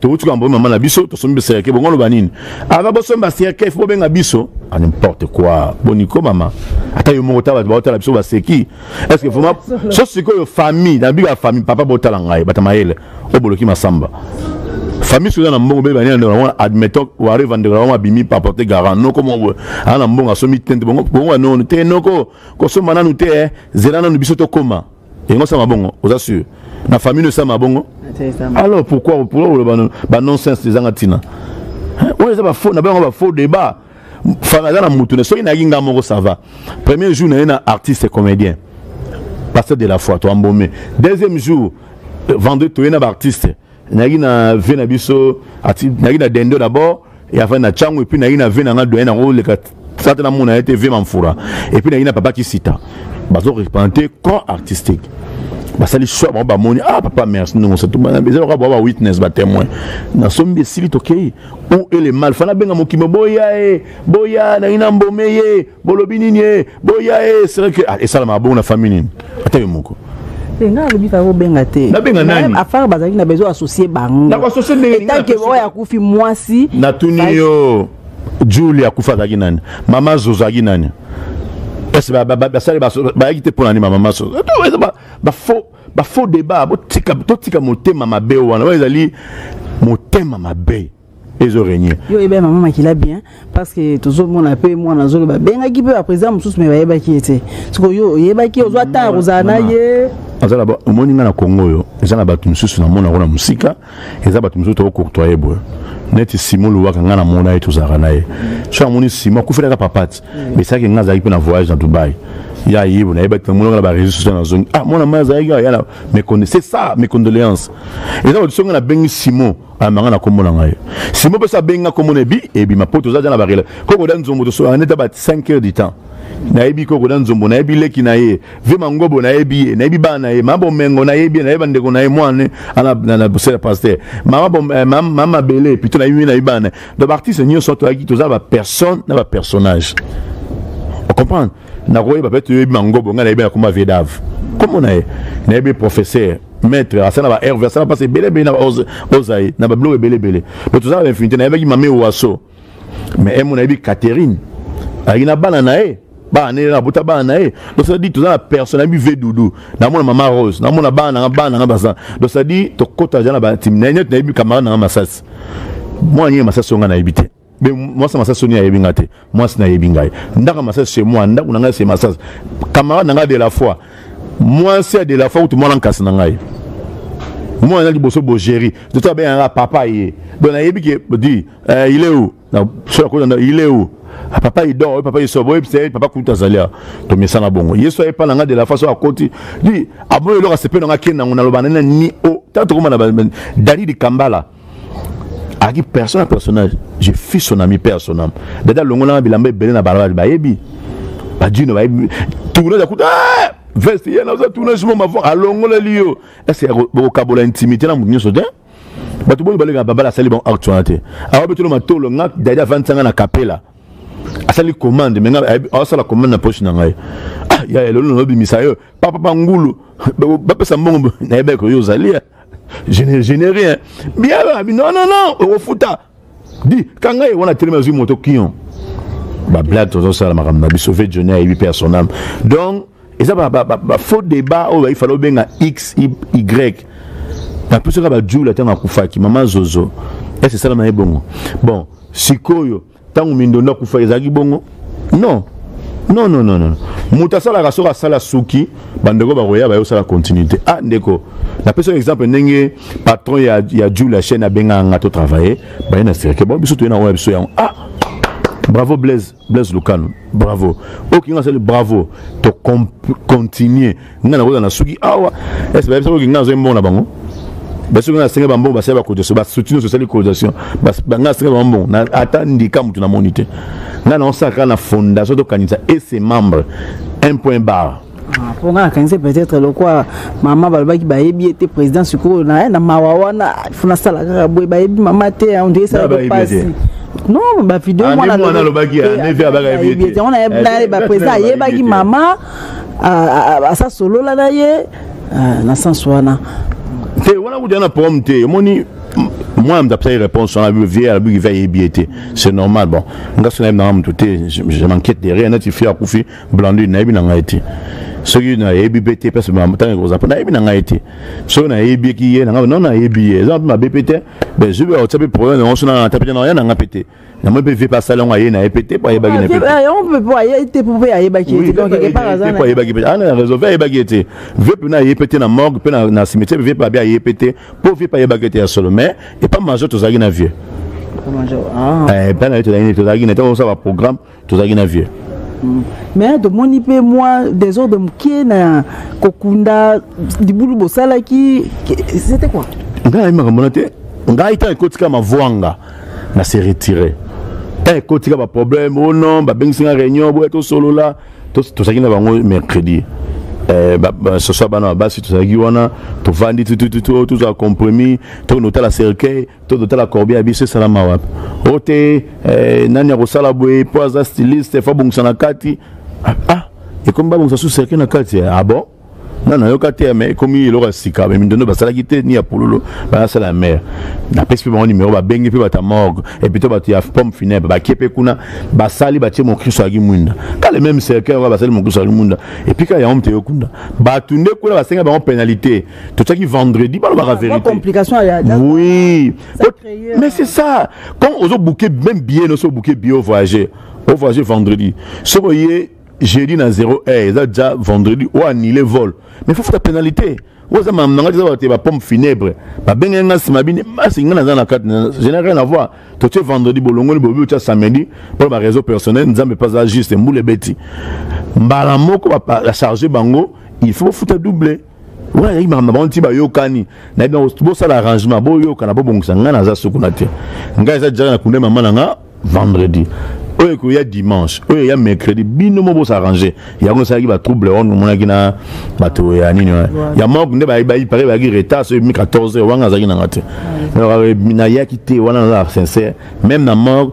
towuti koyamba mama na biso tosombi baserke bongo oloba nini ava bosombi baserke fo bobenga biso a ah, n'importe quoi boniko mama ata yo moko ta bato baotala biso baseki est ce que vraiment so sikoyo famille na bika famille papa botala ngai bata mayele oboloki masamba famille soki na mbongo bebe bania ndeko wana admettons wari va ndeko wana abimi par porte garant noko moko ana mbongo asomi tente bongo bongo no te noko kosomba nanu te eh. zela nanu biso tokoma yango sama bongo oza sur na famille oyo sama bongo alors pourquoi pourquoi oloba ba nonsense ezanga ntina oyo eza bafaux na bango bafaux débat fana aza na motu ne soki nayaki nga moko ça va premier jour naye na artiste comédien pasteur de la foi toambome deuxième jour euh, vendredi toye na baartiste nayaki na vie na biso nayaki na dendo d'abord et avant na chango et puis nayaki na vie na nga doyen nango oleka sata namona ye te vie mamfura et puis nayaki na papa kisita bazo représente corps artistique basali choix bango bamoni ah papa merci ndongo sa eza lokola bwa bawitness batémoin nasombi esili tokei ou ele mal fana abenga mokimi boya ye boya nangi na mbome ye bolobi nini e boya e eh, seke ah, esalamaka bongo na famille nini ata yo moko eh, nga alobi kaka obenga te nabenga nani afare bazalaki na besoin associe bango nakoassocie ndenge etanke oyo akufi mwasi natuni yo julie akufi azalaki nani mama zozo azalaki nani ese basali bayaki te mpo na nini mama zozo bafaux bafaux débat totika motema mabe wana oyo ezali motema mabe ezo régner yo yeba mama makila bien parce que tozomona mpe mwana azoloba bengaki mpe baprésident mosusu me bayebaki ye te siko yo oyebaki ozwa ntango ya kozala na ye azala omoni ngai na kongo oyo eza na bato mosusu namona yango na mosika eza bato mosusu tokocourtoye boye neti simo lobaka ngai namona ye tozalaka na ye so amoni simo akufelaka papati mesalaki ngai azalaki mpe na voyage na dubai ya yebo nayebaki namonaka na bareseau social nazongi ah mwana mai azalaki yaya mais c'est ça mes condoléances eza bato so ngai nabengi simo amanga ah, na kombo na ngai simo mpe abenga kombo na ebi ebima mpo toza ja na barela koko da nzombo tosolaka nde ta ba 5 heures du temps nayebi koko na nzombo nayebi leki na ye ve mangobo nayebi ye nayebi bana na ye mama bomengo nayebi ye nayebi bandeko na ye mwana na bosela paster eh, mama mabele pito nayebi ye nayebi bana na ye donc baartiste nyonso toyaki toza bapersonne na bapersonnage ocomprendre nakoyeba mpe toyebi mangobo ngai nayebi na komba vedave komo na ye nayebi professeur maître asala na ba herve asala mpasi ebele ebele na ozaye na babiloko ebele ebele mpe toza na bainfinité nayebaki mame waso mais emo nayebi catherine ayaki na bana na ye bana nene nabota bana na ye donc ça dit toza na personne nayebi ve doudou namona mama rose namona bana nanga bana nanga baza donc ça dit tokota ja na batimi na ye neti nayebi camarade nanga masasi mwana nini masasi onga nayebi te mais mwasi na masasi soni ayebi ngai te mwasi nayebi ngai ndako ya masasi chez moi ndako na ngai se masasi camarade na ngai de la foi mwasi ya de la foi kutu mwana nkasi na ngai mwana liboso bogeri toto abenganga papa ye donc nayebi ke di eh, il est où soki akozanda il est où ah, papa il dort papa il sort boyebi se papa kutu azali awa tomesana bongo yesu ayepa na ngai de la façon akoti di aboyi eloko asepe na ngai akende nango naloba nani ni o oh, ntango tokoma na dalili kambala ayaki personne na personnage je fus son ami père son âme dada alongolanga bilamba ebele na balabala bayebi badino bayebi tournage akuta ah! veste ye naza tournage mo mavon alongoleli yo ese bokokabola intimité na moto nyonso te bato boni baleka babala asali bango acte wana te awa betolo matolo nga dadi avandisanga na kapela asali commande me asala commande na poche na ngai ah, ya elolo nalobimisa yo papapa ngulu bapesa mbongo nayebaki oyo ozali je ne, je ne rien bien babi non non non okofuta di kanga ye wana telema azwi moto kion bablage tozosala makambo na biso ve joni ayebi mpe ya son ame donc eza bafaux débat oyo baifala obenga x y napesaka bajula ntango akufaki mama zozo ese esala na ye bongo bon sikoyo ntango mindondo akufa ezalaki bongo non non non non non moto asalaka soki asala suki bandeko bakoya baye osala continuité ah ndeko napesa exemple ndenge patron ya, ya jul ya chaîne abengaka nga to travaille baye na sirke bon biso toye na oyo biso yango ah bravo blaise blaise lukano bravo oyo kinga asali bravo to continue nga nakoza na suki awa ese bayebisa koki nga nazoi mbongo na bango basoki nga nasenga bambongo basali bacotisation basuti nyonso esali cotisation nga nasenga bambongo ata ndika motu namoni te nga naosalaka na fondation tokanisa ese membre un point barre mpo ah, nga nakanisi peut-être lokwa mama balobaki bayebi ye te président sikoyo na na mawa wana fo nasala kaka boye bayebi mama te ondire esalaka mpasi non bavideo mwana alobaki yango na ye baprésident ayebaki mama asa solola na ye ah, na sens wana te wana kutu na problème te omoni moi mda pesa ye réponse wana vie alobi kivi ayebi ye te c'est normal bon nga so nayebi nanga moto te je m'inquiète de rien neti fi akufi blandine nayebi na ngai te soki nayebi mpe te place ntango ekozala mpo nayebi na ngai te soki nayebiki ye na ngai no nayebi ye eza mpe mabe mpe te mais zubi akotia mpe problème yango so na ata mpe na ya na ngai mpe te namoni mpe vie mpe asali yango aye na ye mpe te mpo ayebaki na ye ah, yango mpe mpo aye te mpo mpe ayebaki ye te donc quelque part aza mpo ayebaki mpe ana ah, na réseau vie ayebaki ye te vie mpe na aye mpe te na morgue mpe na cimetière vie mpe abi aye mpe te mpo vie mpe ayebaki ye te ya solo mais epa major tozalaki na vieux epa eh, na ye tozalaki na ye tozalaki na ye ntango osala baprogramme tozalaki na vieux mais tomoni mpe mwa desordre moke na kokunda libulu bosalaki c'était quoi ngai nayebi makambo na te ngai ntango ekotika mavwanga na se retire ntango ekotika baproblème o oh non babengisi nga réunion boya tosolola tozalaki na bango mercredi Eh, soso bana basi tozalaki wana tovandi tutututu tozwa compromis tokende kotala cercueil to totala corbe ya biso esalama wapi o te eh, nani akosala boye mpo aza styliste fo abongisa na kati ah, ah ekomi babongisa su serke na kati ah bon nga nayoka te me ekomi eloko ya sika me mindondo basalaki te ni ya pululu banasala ya mare napesi mpe bango nimero babengi mpe bato ya morgue epito bato ya pomme funèbre bakie mpe kuna basali batie mokristo yaki mwinda kale meme cercueil yango basali mokristo yaki mwinda epika yango mte yokunda bato nde kuna basenga bango penalité totiaki vendredi balobaka vérité complication ya oui mais c'est ça quand ozo bouquet même billet no so bouquet billet au voyager au voyager vendredi so boye jeudi na 0 heure eza déjà vendredi o annule vol mais faut faire pénalité oyo eza makambo na ngai eza bate bapompe funèbre babenge ngai nsima bini basi ngai naza na kati gene rien avoir totie vendredi bolongoli bobi otya samedi mpo na bareseau personnel nzambe mpe aza juste mbula ebeti mbala moko bacharge bango il faut bofuta double wana ezalaki makambo na bango nti bayokani nayebi yango bosala arrangement boyokana bobongisa ngai naza sukuna te ngai eza jaka na kunda mama na nga vendredi oyo ekoya dimanche oyo eya mercredi bino mo bosarrange yango esalaki batrouble wana omonaki na bato ya nini ya manque nde pare bayaki retard soki mi 14 heure wanga azalaki nanga te nayaki te wana naza sincère même na manque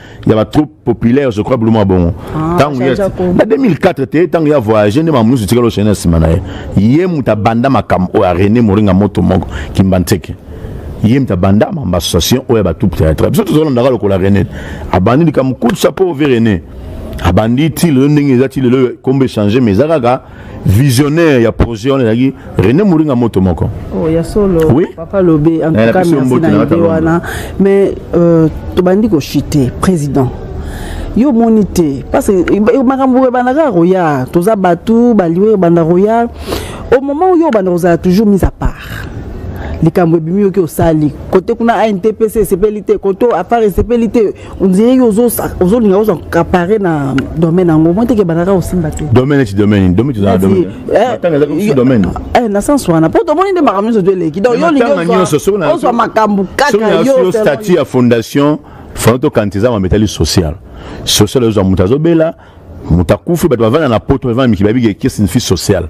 ya ba troupe populaire je crois bulu mwa bongo ntango ah, na 2004 te ntango ya voyage nde mamunusu etikala oshene na nsima na ye ye moto abanda makambo oyo ya rene moringa moto moko kimba nteke ye moto abanda mamba association oyo ya batroupe théâtre biso tozolandaka lokola rene abandi likambo kutu sapo ove rene abandi ti lelo ndenge eza ti lelo kombo echange mais eza kaka visionnaire ya projet wana ezalaki rené moringa moto moko oh, ya solo oui? papa lobe en tout cas merci na idée wana mais euh, tobandi kochite président yo omoni te parce que makambo ebandaka koya toza bato baliwe ebanda koya au moment oyo obanda kozala toujours mise à part likambo ebimi yoki osali kote kuna antpc esepeli te kote afar esepeli te ondire yo ozolinga ozwa kapare na domaine yango moi teke bandaka osimba te domaine eti domaine domaine tozala domaine eh, eh, eh, na sens wana mpo tomoni nde makambo nyonso to eleki donc yo olingiozwa makambo kaka yo statut ya fondation fana tokanisa eza mambo etali social social ezwa moto azobela moto akufi bato bavanda na poto bavanda mikili babiki eke signifie social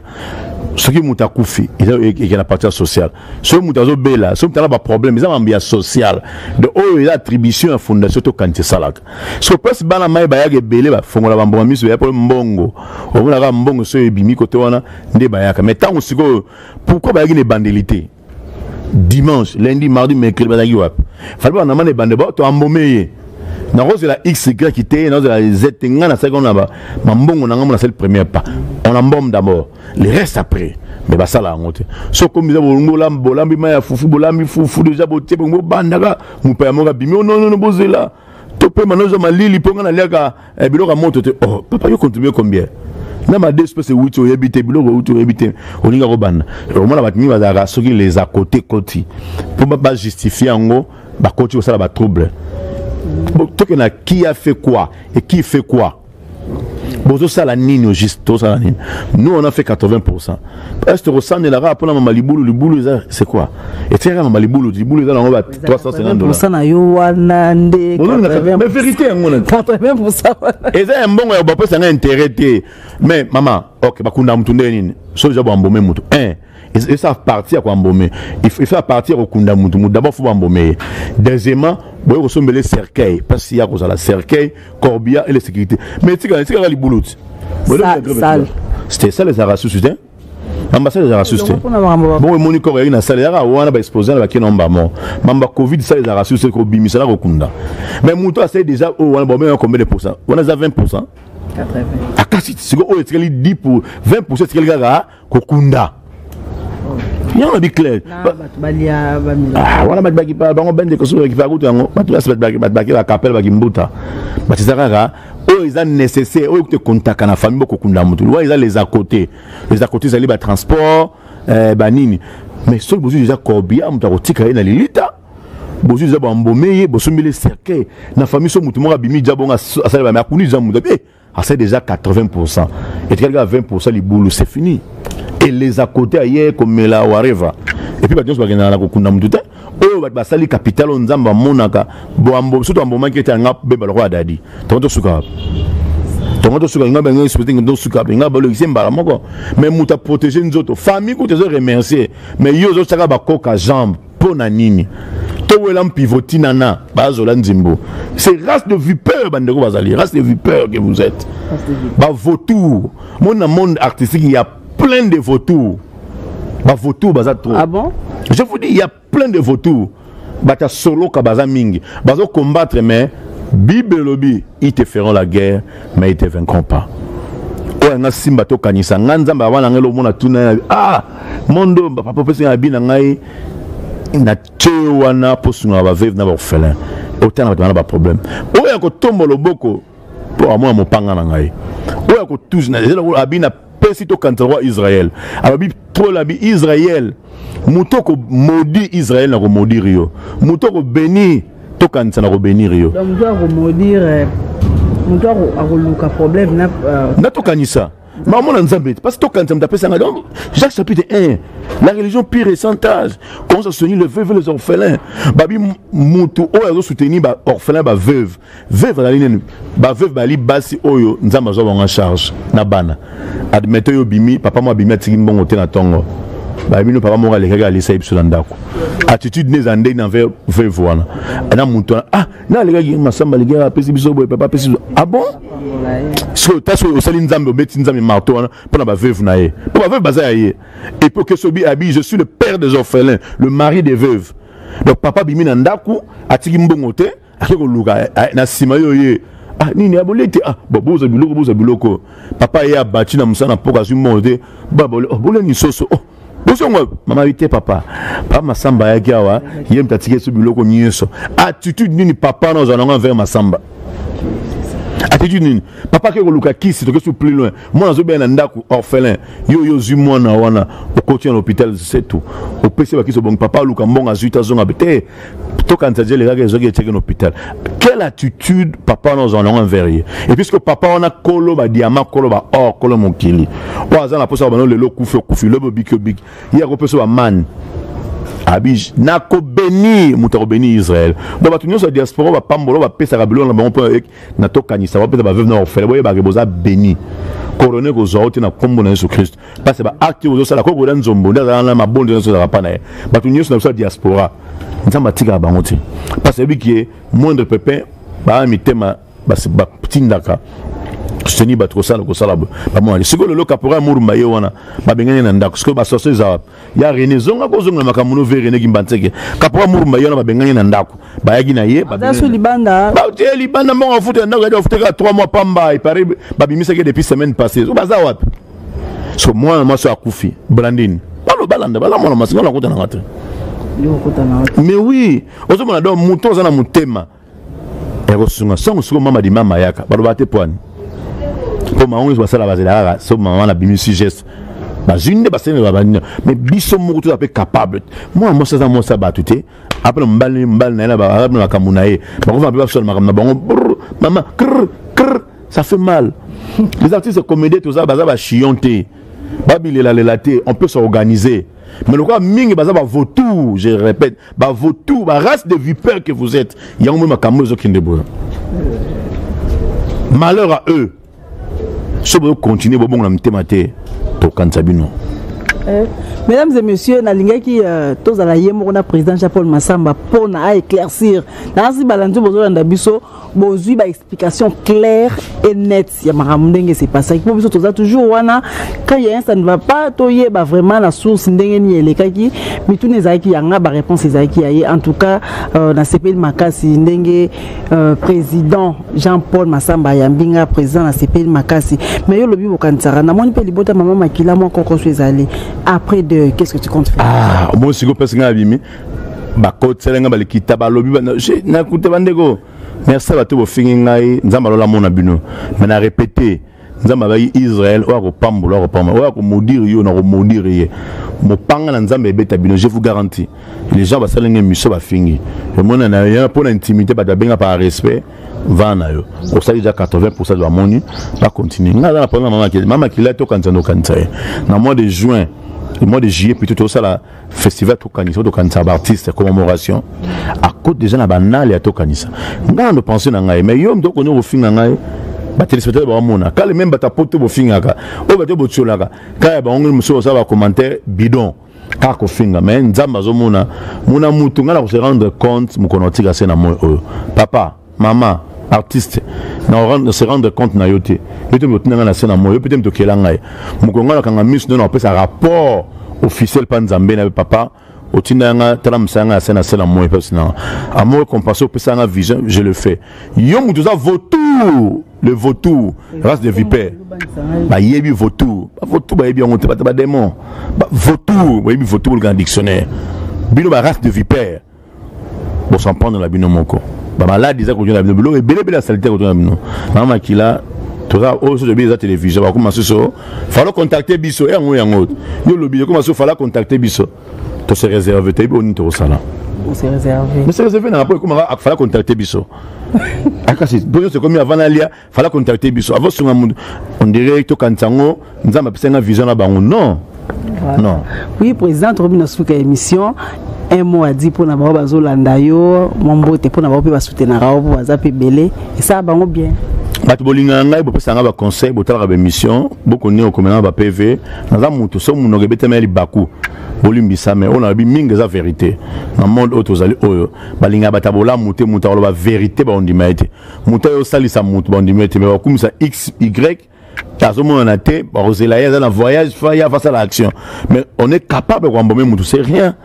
soki moto akufi eza ekela parti ya social soki moto azobela soki moto aza baproblème eza mambo ya social de oyo eza attribution ya fondation to kanisa esalaka so place bana mai bayaka ebele bafongola bambongo miso baya mpo mbongo omonaka mbongo soki ebimi kote wana nde bayaka mais ntango sikoyo pourkui bayaki na ebandeli te dimanche lundi mardi mercredi bazalaki wapi fali bana mane bande bo to ambome ye nakozela xy te nazela z te ngai nasalaki wana na mambongo na ngai mo nasali première pas on embome d'abord le reste après me basala yango te soki komi eza bolongola bolambi mai ya fufu bolambi fufu deja botie bongo bobandaka mopaya moko abimi ononono oh, bozela topema nozwa malili mpo ngai naliaka eh, biloko ya moto te oh, papa yo contribue combien na ma deux espèce euti oyebi te biloko euti oyebi te olinga kobanda omona bato mingi bazalaka soki les à côté koti mpo bajustifie yango bakoti kosala batrouble toke na qui a fait quoi et qui fait quoi bozosala nini au juste tosala nini nous on a fait 80 est tokosanela kaka mpona mama libulu libulu eza c'est quoi etikaka mama libulu libulu eza nango ba 350 na yo wana nde mais vérité yango na eza ya mbongo ya bapesa nga intérêt te mais mama ok bakunda motu nde nini so deja boambome motu un esa parti ya koambome esa parti ya kokunda motu motu d'abord fo bambome ye deuxièmement boye kosombele cercueil mpasi ya kozala cercueil corbia et les sécurité mais etika etikaka libulu ti c'était ça les arasusu te ambassade ezalaka susu te bongo emoni koko yaki na sale yaka wana baexpose na bakena mbamo mamba covid sale ezalaka susu te kobimisa na kokunda mais moto asali déjà oyo wana bomema combien de pourcent wana eza 20 pourcent akasi sikoyo oyo etikali 10 pour 20 pourcent etikali kaka kokunda yango na biclaire ah, wana bango bende kosoki bakipa kutu yango bato basi baki bakapele bakimbuta batisa kaka oyo eza nécessaire oyo kutu ekontaka na famille bokokunda motu wana eza les à côté les à côté ezali batransport eh, banini mais soki bozwi eza corbia moto akotika ye na lilita bozwi eza bambome ye bosombeli cercueil na famille so motu moko abimi ja bongo asali bame akuni eza moto ase déjà 80 pourcent etikali kaka 20 pourcent libulu c'est fini eleza kote aye komela wareva epuis bato nyonso bakendaka na kokunda motu te oyo bato basali kapitale oyo nzambe amonaka soto ambomaki ete anga beba lokola dadi tongo tosuka wapi tongo tosuka inga bango espete ngi tosuka wapi inga balokisi mbala moko mais moto aprotege nzoto famille kutu ezo remercier mais yo ozosaka bakoka jambe mpo na nini towela mpivoti nana bazola nzembo c'est race de vipeur bandeko bazali race de vipeur que vous êtes bavautour mona monde artistique il y a plein de vautour bavautour baza trop ah bon? je vous dis il y a plein de vautour bato ya soloka baza mingi bazo combattre mais bible elobi ils te feront la guerre mais ils te vaincront pas oyo nga simba tokanisa nga nzambe abana nga elomona tuna ah mondo papa opesi na bi na ngai na tie wana mpo sungaka baveve na baorphelin otanga bato wana baproblème oyo ya kotomba loboko mpo amona mopanga na ngai oyo ya kotuzi na ezela abi na pesi tokanisa roi israel alobi pole abi israel moto okomodi israel na komodire yo moto okobenir tokanisa na kobenire yo moto akoluka problème na euh, tokanisa bamona nzambe te parce tokanisa moto apesa ngai donc jacques chapitre 1 la religion pire et sans age commence à soutenir le veuve les orphelins babi motu oyo azo soutenir ba orphelin ba veuve veuve azali nini ba veuve bali basi oyo nzambe azwa bango charge na bana admettons yo bimi papa mo abimi atiki mbongo te na tongo babino papa moko alekaki alisa ye biso na ndako attitude nde eza ndenge na veuve wana na motu wana ah na alekaki masamba aleki apesi biso boye papa apesi biso ah bon sikoyo ta soki osali nzambe obeti nzambe marto wana mpo na baveuve na ye mpo baveuve baza ya ye epo kesobi abi je suis le père des orphelins le mari des veuves donc papa abimi na ndako atiki mbongo te ake koluka eh, eh, na nsima yo ye ah nini aboli ete ah bon boza biloko boza biloko papa ye abati na mosala na mpoka azwi mbongo te baboli oh, boleni soso oh bosongo mama yite papa papa masamba ayaki awa ye moto atiki esu biloko nyonso attitude nini papa na ozala nango envers masamba attitude nini papa ake koluka kisi toke su plus loin mwana azobela na ndako orphelin yo yo ozwi mwana wana okoti na hôpital setu opesi bakisi obongi papa aluka mbongo azwi te azonga te tokanisa je elekaki ezoki etiaki na hôpital quelle attitude papa wana ozala nango envers ye et puisque papa wana kolo badiama kolo baor kolo mokili oyo aza na mposa bano lelo okufi okufi lobi obiki obiki ye akopesa bamani abi nakobeni moto akobeni israel donc bato nyonso ya diaspora bapambola bapesaka biloko na bango mpo na tokanisa wapi eza baveuve na baofele boyebaka boza beni korona ekozwa yo te na nkombo na yesu kristo mpasi baakte ozosala koko oda nzombo nde azalaka na mabonzo nyonso ezalaka mpa na ye bato nyonso na biso ya diaspora nzambe atikaka bango te mpasi ayebiki ye moindre pepin baa mitema batindaka seni bato kosala kosala bamonani sikoyo lelo kapora murumba ye wana babengani na ndako sikoyo basoso eza wapi ya rene zonga kozongela makambo no ve rene kimbanseke kapora murumba ye wana babengani na ndako bayaki na ye batie libanda mbongo afuta ya ndako yadi bafutaka 3 mois pamba epare babimisaki depuis semaine passée so baza wapi so mwana mwasi akufi blandini balo balanda baza mwana mwasi nga nakutananga te mais oui ozomona donc moto aza na motema ekosunga so mosuku mama dimama yaka baloba te pwani mpo bango nyonso basala bazela kaka so mama na bimisi geste bazwi nde basenela banina mais biso moko toza mpe capable mwana mwasi aza mwasi ya bato te apena mobali mobali na ye na makambo na ye bakofana mpe basala makambo na bango mama kr kr ça fait mal les artistes comédien toza baza bachillon te babilelalela te on peut s'organiser mais lokola mingi baza bavautour je répète bavautour barace de vipère que vous êtes yango moi makambo ezokende boya malheur à eux so bozokontinue bobongo na mitema te tokanisa bino eh, mesdames et messieurs nalingaki euh, tozala ye moko na président jean paul masamba mpona aéclaircir naasi balanzi bozolanda biso bozwi ba explication claire et nette ya makambo ndenge se pasaki mpo biso toza toujours wana quand ya ça ne va pas toyeba vraiment na source ndenge nini elekaki mituna ezalaki yanga baréponse ezalaki ya ye en tout cas euh, nasepeli makasi ndenge euh, président jean paul masamba ayambi nga président nasepeli makasi mais yo olobi bokanisaka namoni mpe libota mama makila mwa kokoso ezali après de qu'est ce que tu compte faire ah, moi sikoyo mpesi ngai abimi bakotisela ngai balikita balobi nakuta bandeko merci bato bofingi ngai nzambe alola mona bino me na repete nzambe abaki israel oyo akopambola akopambola oyo akomodire yo na komodire ye mopanga na nzambe ebeta bino je vous garanti les gens basali ngai miso bafingi omona na yo mpo na intimité bato babenga par respect vaa na yo osali deja 80 pourcent de bamoni bacontinue ngai aza na problème na mama makila tokanisa nokanisa ye na mois de juin le mois de juillet plutôt tosala festival tokanisa tokanisa baartiste commemoration akoti deja na banale ya tokanisa ngai nando pense na ngai mais yo mto okondi kofinga ngai batelespectateur bakomona kale meme bato apoto bofingaka oyo bato botiolaka kaya bango mosusu basala bacommentaire bidon kaka kofinga mais nzambe azomona mona mutu ngai na kose rendre compte mokolo natika se na moi oyo papa mama artiste na se rendre compte na yo te yo te moto nanga na se na moi yo mpe te moto okela ngai mokolo ngai nakanga miso nde napesa rapport officiel mpa nzambe na papa otinda yanga tala mosala yanga ya se na se na moi mpasi nanga amour compense opesa yanga vision je le fais yo moto oza vautour le vautour race de vipère bayebi vautour bavautour bayebi yango te bata bademon vautour bayebi vautour bolukana dictionnaire bino ba race de vipère bosampano na bino moko bamaladi eza kotyona bino biloko ebelebele ya salite kotyona bino na makila toza oyo soki tobi eza télévision bakoma susu falo contacte biso eh, yango yango yo lobi ekoma susu fala contacte biso tose réserve toyebi oyo nini tokosala se réserve nanga mpo ekomaka fala contacte biso akasi mpo nyonso ekomi avana alia fala contacte biso avant sunga mutu on dirait tokanisa yango nzambe apesa nga vision na bango non voilà. non oui président tokomi na suka émission un mot adi mpo na bango bazolanda yo mwa mbote mpo na bango mpe basutenaka yo mpo baza mpe ebele esala bango bien bato bolingaka ngai bopesa ngai baconseil botalaka baémission bokoni okomela na bapv naza moto so monoko ebetama ya libaku bolimbisame oyo nalobi mingi eza verité na monde oyo tozali oyo balingaka bato ya bolamu te moto akoloba verité baondima ye te moto ayo osalisa moto bandimi ete me bakumisa x y azomonana te bakozela ye aza na voyage fa ye afasala action mais on est capable koambome moto c'est rien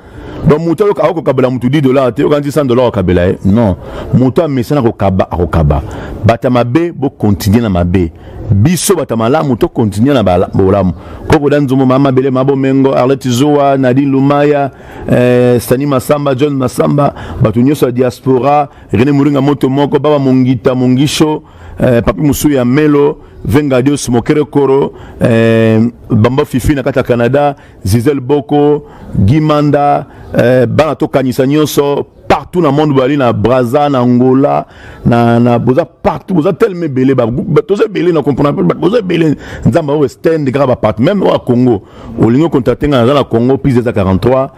donc moto ayoka akokabela moto 10 dollar te yokanisi 100 dollar okabela ye non moto amesana kokaba akokaba bato ya mabe bokontinue na mabe biso bato ya malamu tokontinue na bolamu kokoda nzombo maa mabele ma bomengo arlete zowa nadine lumaya eh, stani masamba john masamba bato nyonso ya diaspora Rene Muringa moto moko baba mongita mongisho eh, papi mosusu ya melo vengadios mokere koro eh, bamba fifi na kati ya canada zizel boko gimanda eh, bana tokanisa nyonso partout na monde bozali na braza na angola na, na boza partout boza telema ebele toza ebele na comprendre boza ebele nzambe aoyo stand kaka bapart meme oyo ya congo olingi okontakte ngai naza na congo pise eza 43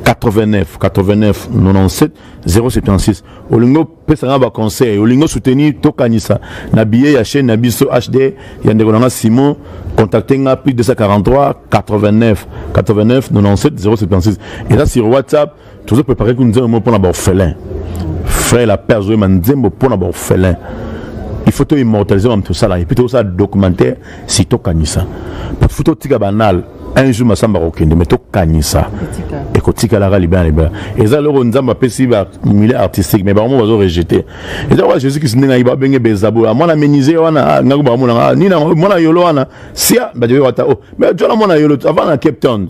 89 89 97 076 olingi opesa nga baconseil olingi osoutenir tokanisa na billet ya chaîne na biso hd ya ndeko na nga simon contacte nga plus 243 89 89 97 076 eza sur whatsapp tozo prépare ku nzembo moko mpona baorphelin frère la père azoyema nzembo mpona baorphelin il faut toimmortalise bamoto tosala epuis tokosala documentaire si tokanisa bafu totika banal un jour masamba akokende me tokanisa ekotikalaka libela na libela eza eloko nzambe apesi bamile artistique me bango mo bazo rejete eza kaka jésus kristu ndenge ayeba abenge bezabola mwana menise wana ah, ngako bakomonaka ah, nini mwana yolo wana sia bajoyo wata o oh, me jona mwana yolo avant na cape town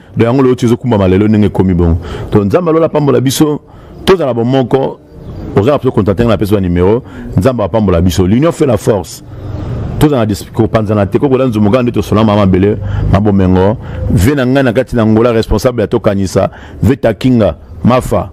do yango lelo tizokumbama lelo ndenge ekomi bongo to nzambe alola apambola biso tozala bomoko oza na mpe contacte nga napesi ba numero nzambe apambola biso l'union fait la force tozala kopanzana te kokola nzumuka nde tosona mama mabele mabomengo ve na ngai na kati na ngola responsable ya tokanisa ve takinga mafa